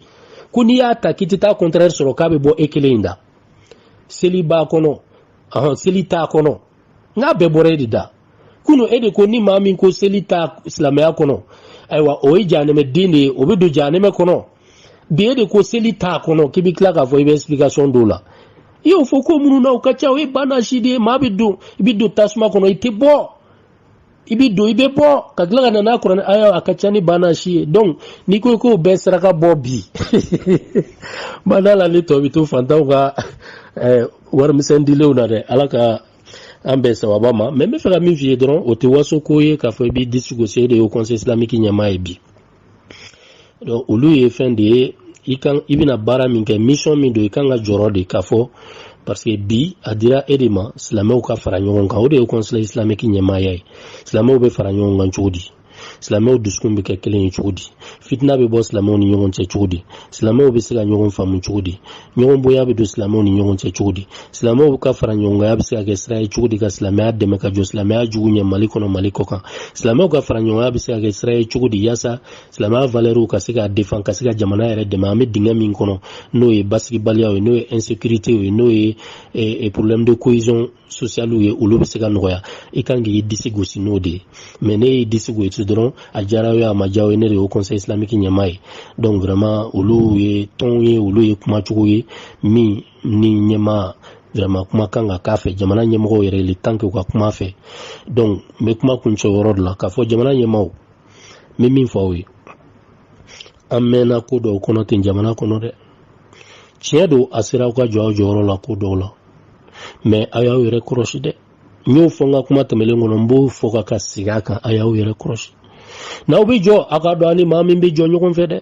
Speaker 1: ko n'i y'a ta k'i tɛ taa contraire sɔrɔ k'a bɛ bɔ e kelen in da seli b'a kɔnɔ seli t'a kɔnɔ nka a bɛɛ bɔra e de da kunu e de ko ni maa min ko seli ta silamɛya kɔnɔ ayiwa o ye jahanɛmɛ den de ye o bɛ don jahanɛmɛ kɔnɔ bi e de ko seli t'a kɔnɔ k'i bɛ tila k'a fɔ i bɛ explication dɔw la i y'o fɔ ko minnu na o ka ca o ye banasi de ye maa bɛ don i bɛ don tasuma kɔnɔ i tɛ bɔ i bi don i bɛ bɔ ka tila ka na n'a kuranɛ aya a ka ca ni banna si ye donc n'i ko k'o bɛɛ saraka bɔ bi bada la ni tɔ bi to fantanw ka eh, warimisɛn dilenw na dɛ ala ka an bɛn sawaba ma mais n bɛ fɛ ka min f'i ye dɔrɔn o tɛ waso ko ye k'a fɔ i b'i disi gosi e de ye haut conseil islamique ɲɛmaa ye bi donc olu ye fɛn de ye i kan i bɛna baara min kɛ mission min don i kan ka jɔrɔ de k'a fɔ parce que bi a dira e de ma silamɛw ka fara ɲɔgɔn kan o de ye conseil islamique ɲɛmaaya ye silamɛw bɛ fara ɲɔgɔn kan cogo di silamɛw dusukun bɛ kɛ kelen ye cogo di fitina bɛ bɔ silamɛw ni ɲɔgɔn cɛ cogo di silamɛw bɛ se ka ɲɔgɔn faamu cogo di ɲɔgɔn bonya bɛ don silamɛw ni ɲɔgɔn cɛ cogo di silamɛw ka faraɲɔgɔnya bɛ se ka kɛ sira ye cogo di ka silamɛya dɛmɛ ka jɔ silamɛya jugu ɲɛ mali kɔnɔ mali kɔkan silamɛw ka faraɲɔgɔnya bɛ se ka kɛ sira ye cogo di yaasa silamɛya valeurw ka se ka défendre ka se ka jamana yɛrɛ dɛmɛ an bɛ dingɛ min kɔnɔ n'o ye basigibaliyaw ye n'o ye insécurité ye n'o ye eh, eh, problème de cohésion socialew ye olu bɛ se ka nɔgɔya i kan k'i disi gosi n'o de ye mais n'e y'i disi gosi dɔrɔn a diyara ye a ma diya ye ne de ye haut conseil islamique ɲɛmaa ye donc vraiment olu ye tonw ye olu ye kumacogo ye min ni ɲɛmaa vraiment kuma kan ka k'a fɛ jamana ɲɛmɔgɔw yɛrɛ il est temps k'u ka kuma fɛ donc n bɛ kuma kuncɛ yɔrɔ de la k'a fɔ jamana ɲɛmaaw n bɛ min fɔ aw ye an mɛnna ko dɔw kɔnɔ ten jamana kɔnɔ dɛ tiɲɛ don a sera aw ka jɔ aw jɔyɔrɔ la ko dɔw la mais a y'aw yɛrɛ kɔrɔsi dɛ n y'o fɔ n ka kuma tɛmɛlen kɔnɔ n b'o fɔ ka ka segin a kan a y'aw yɛrɛ kɔrɔsi n'aw bɛ jɔ a k'a dɔn a ni maa min bɛ jɔ ɲɔgɔn fɛ dɛ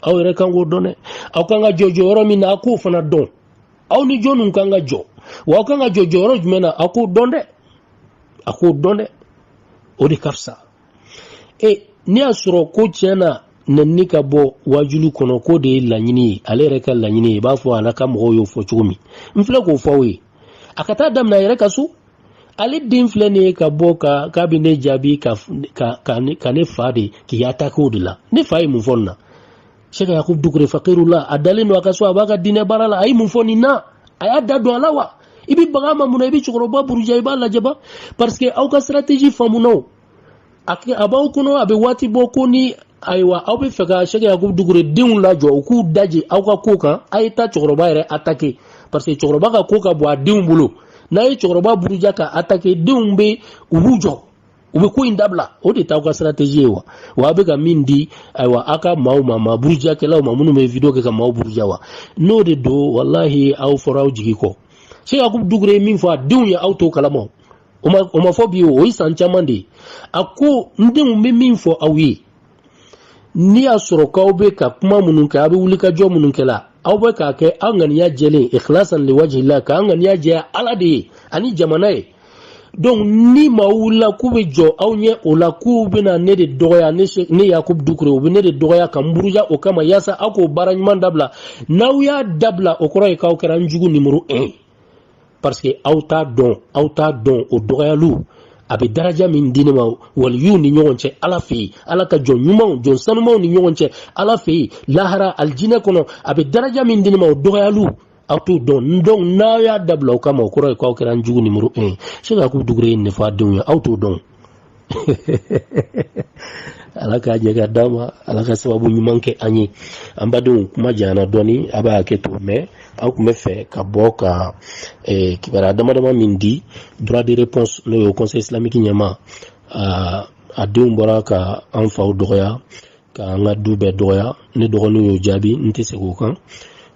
Speaker 1: aw yɛrɛ kan k'o dɔn dɛ aw kan ka jɔ jɔyɔrɔ min na a k'o fana dɔn aw ni jɔnniw kan ka jɔ wa aw kan ka jɔ jɔyɔrɔ jumɛn na a k'o dɔn dɛ a k'o dɔn dɛ o de ka fisa e n'i y'a sɔrɔ ko tiɲɛ na nɛnini ka bɔ wajulu kɔnɔ k'o de ye laɲini ye ale yɛrɛ ka laɲini ye i b'a fɔ a n'a ka mɔgɔw y'o fɔ cogo min n filɛ k'o fɔ aw ye a ka taa daminɛ a yɛrɛ ka so ale den filɛ nin ye ka bɔ ka k'a bɛ ne jaabi ka ka ka ne fa de k'i attaquer o de la ne fa ye mun fɔ nin na cheikh yakub dukure fakirullah a dalen don a ka so a b'a ka diinɛ baara la a ye mun fɔ nin na a y'a da don a la wa i bɛ baga a ma mun na i bɛ cɛkɔrɔba buruja i b'a lajaba parce que aw ka stratégie faamuna o a b'aw kɔnɔ a bɛ waati bɔ ko ni ayiwa aw bɛ fɛ ka cheikh yakub dukure denw lajɔ u k'u daje aw ka ko kan a ye taa cɛkɔrɔba yɛrɛ attaquer parce que cɛkɔrɔba ka ko ka bon a denw bolo n'a ye cɛkɔrɔba buruja k'a attaquer denw bɛ u b'u jɔ u bɛ ko in dabila o de t'aw ka stratégie ye wa wa a bɛ ka min di ayiwa aw ka maaw ma maa burujakɛlaw ma minnu bɛ vidéo kɛ ka maaw buruja wa n'o de don walahi aw fɔra aw jigi kɔ cheikh yakub dukure ye min fɔ a denw ye aw t'o kalama o ma fɔ bi o ye san caman de ye a ko n denw n bɛ min fɔ aw ye n'i y'a sɔrɔ k'aw bɛ ka kuma minnu kɛ aw bɛ wulikajɔ minnu kɛ la aw bɛ k'a kɛ aw ŋaniya jɛlen ikhlasan liwajihillah k'aw ŋaniya jɛya ala de ye ani jamana ye donc ni maaw wulila k'u bɛ jɔ aw ɲɛ o la k'u bɛna ne de dɔgɔya ne ne yakubu dukure u bɛ ne de dɔgɔya ka n buruja o kama yaasa aw k'o baara ɲuman dabila n'aw y'a dabila o kɔrɔ ye k'aw kɛra n jugu nimoro un ye parce que aw t'a dɔn aw t'a dɔn o dɔgɔyaliw a bɛ daraja min di ne ma waliyuw ni ɲɔgɔn cɛ ala fɛ yen ala ka jɔn ɲumanw jɔn sanumanw ni ɲɔgɔn cɛ ala fɛ yen lahara alijinɛ kɔnɔ a bɛ daraja min di ne ma o dɔgɔyaliw aw t'o dɔn donc n'aw y'a dabila o kama o kɔrɔ ye k'aw kɛra n jugu nimoro un ye cheikh yakubu dukure ye nin fɔ a denw ye aw t'o dɔn ala k'a ɲɛ ka d'a ma ala ka sababu ɲuman kɛ an ye an badenw kuma janyana dɔɔni a b'a hakɛ to mais aw tun bɛ fɛ ka bɔ ka eh, kibaruya dama dama min di droit de réponse n'o ye conseil islamique ɲɛmaa denw bɔra ka an faw dɔgɔya ka an ka du bɛɛ dɔgɔya ne dɔgɔninw y'o jaabi n tɛ segin o kan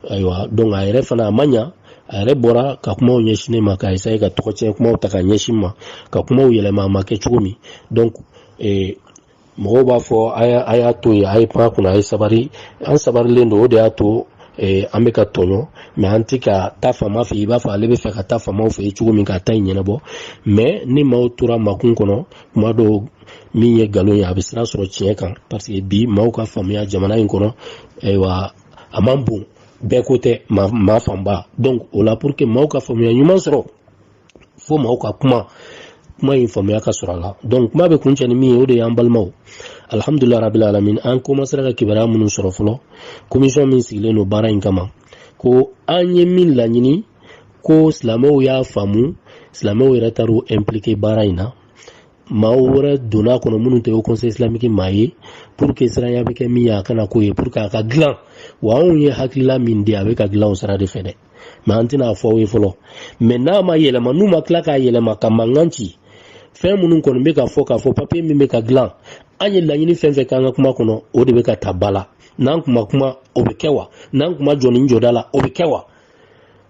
Speaker 1: ayiwa donc a yɛrɛ fana a ma ɲa a yɛrɛ bɔra ka kumaw ɲɛsin ne ma ka essayer ka tɔgɔ tiɲɛ kumaw ta ka ɲɛsin n ma ka kumaw yɛlɛma a ma kɛ cogo min donc eh, mɔgɔw b'a fɔ a y'a to yen a ye pan kunna a ye sabari an sabarilen don o de y'a to eh, an bɛ ka tɔɲɔ mais an tɛ ka taa fama fɛ i b'a fɔ ale bɛ fɛ ka taa famaw fɛ cogo min ka taa in ɲɛnabɔ mais ni maaw tora makun kɔnɔ kuma dɔw min ye nkalon ye a bɛ sira sɔrɔ tiɲɛ kan parce que bi maaw ka faamuya jamana in kɔnɔ ayiwa a man bon bɛɛ ko tɛ maa fanba donc o la pour que maaw ka faamuya ɲuman sɔrɔ fo maaw ka kuma kuma in faamuya ka sɔrɔ a la donc kuma bɛ kuncɛ ni min ye o de y'an balimaw alhamdulilayi rabil alamin an komansera ka kibaruya minnu sɔrɔ fɔlɔ komisɔn min sigilen don baara in kama ko an ye min laɲini ko silamɛw y'a faamu silamɛw yɛrɛ taar'u implike baara in na maaw wɛrɛ donna a kɔnɔ minnu tɛ o conseil islamique maa ye pour que siranya bɛ kɛ min ye a kana k'o ye pour que a ka dilan wa anw ye hakilila min di a bɛ ka dilan o sira de fɛ dɛ mais an tɛna a fɔ aw ye fɔlɔ mais n'a ma yɛlɛma n'u ma tila k'a yɛlɛma ka mankan ci fɛn minnu kɔni bɛ ka fɔ k'a fɔ papiye min bɛ ka dilan an ye laɲini fɛn fɛn k'an ka kuma kɔnɔ o de bɛ ka ta ba la n'an kuma kuma o bɛ kɛ wa n'an kuma jɔ ni jɔda la o bɛ kɛ wa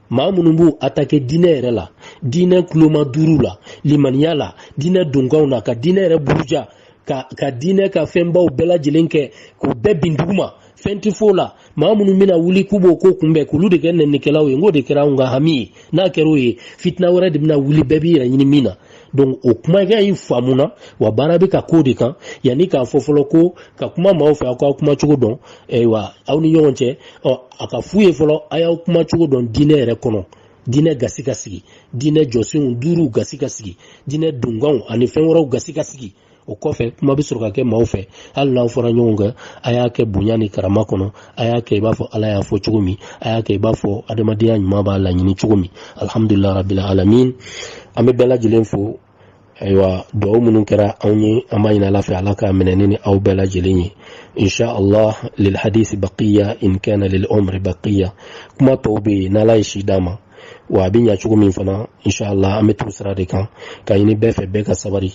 Speaker 1: maa minnu b'u atake diinɛ yɛrɛ la diinɛ kuloma duuru la limaniya la diinɛ donkanw na ka diinɛ yɛrɛ buruja ka ka diinɛ ka fɛnbaw bɛɛ lajɛlen kɛ k'u bɛɛ bin duguma fɛn tɛ f'o la maa minnu bɛna wuli k'u b'o ko kunbɛn k'olu de kɛ nɛnikɛlaw ye n k'o de kɛra anw ka hami ye n'a kɛra o ye fitina wɛrɛ de bɛna wuli bɛɛ b'i yɛrɛ ɲini min na donc o kuma kɛ y'i faamuna wa baara bɛ ka k'o de kan yanni k'a fɔ fɔlɔ ko ka kuma maaw fɛ aw k'aw kuma cogo dɔn ayiwa aw ni ɲɔgɔn cɛ ɔ a k'a f'u ye fɔlɔ a y'aw kuma cogo dɔn diinɛ yɛrɛ kɔnɔ diinɛ gasi ka sigi diinɛ jɔsenw duuru gasi ka sigi diinɛ donkanw ani fɛn wɛrɛw gasi ka sigi o kɔfɛ kuma bɛ sɔrɔ ka kɛ maaw fɛ hali n'aw fɔra ɲɔgɔn kan a y'a kɛ bonya ni karama kɔnɔ a y'a kɛ i b'a fɔ ala y'a fɔ cogo min a y'a kɛ i b'a fɔ adamadenya ɲuman b'a laɲini cogo min alihamudulila rabila alamin an bɛ bɛɛ lajɛlen fo ayiwa dugawu minnu kɛra anw ye an b'a ɲini ala fɛ ala k'a minɛ ni aw bɛɛ lajɛlen ye insha allah lil hadisi baqiya in kana lil umri baqiya kuma tɔw bɛ yen n'ala ye si d'a ma wa a bɛ ɲa cogo min fana insha allah an bɛ t'o sira de kan k'a ɲini bɛɛ fɛ bɛɛ ka sabari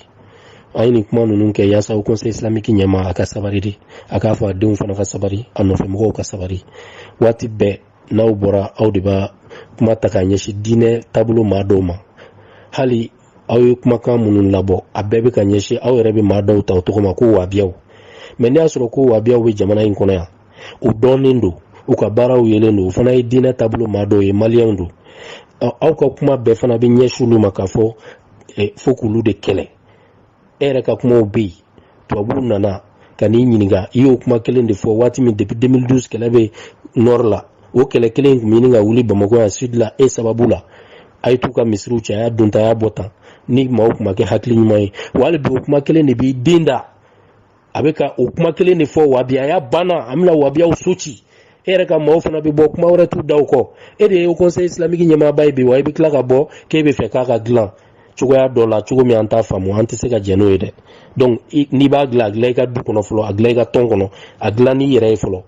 Speaker 1: an ye nin kuma ninnu kɛ yaasa haut conseil islamique ɲɛmaa ka sabari de a k'a fɔ a denw fana ka sabari a nɔfɛmɔgɔw ka sabari waati bɛɛ n'aw bɔra aw de b'a kuma ta k'a ɲɛsin diinɛ taabolo maa dɔw ma hali aw ye kumakan minnu labɔ a bɛɛ bɛ ka ɲɛsin aw yɛrɛ bɛ maa dɔw ta o tɔgɔ ma ko wabiyaw mais n'i y'a sɔrɔ ko wabiyaw bɛ jamana in kɔnɔ yan u dɔnnen don u ka baaraw yelen don u fana ye diinɛ taabolo maa dɔw ye maliyɛnw don aw ka kuma bɛɛ fana bɛ ɲɛsin olu ma k'a fɔ fo k'olu de kɛlɛ e yɛrɛ ka kumaw bɛ yen tubabuw nana ka n'i ɲininka i y'o kuma kelen de fɔ waati min depuis 2012 kɛlɛ bɛ nord la o kɛlɛ kelen in tun bɛ ɲini ka wuli bamakɔ yan sud la e sababu la a ye t'u ka misiriw cɛ a y'a don tan a y'a bɔ tan ni maaw tun ma kɛ hakili ɲuman ye wa hali bi o kuma kelen de b'i den da a bɛ ka o kuma kelen de fɔ wabiyaya banna an bɛna wabiyaw so ci e yɛrɛ ka maaw fana bɛ bɔ kuma wɛrɛ t'u da o kɔ e de ye haut conseil islamique ɲɛmaaba ye bi wa i bɛ tila ka bɔ k'e b'a fɛ k'a ka dilan cogoya dɔ la cogo min an t'a faamu an tɛ se ka jɛn n'o ye dɛ donc n'i b'a dilan a dilan i ka du kɔnɔ fɔlɔ a dilan i ka tɔn kɔnɔ a dilan n'i yɛrɛ ye fɔlɔ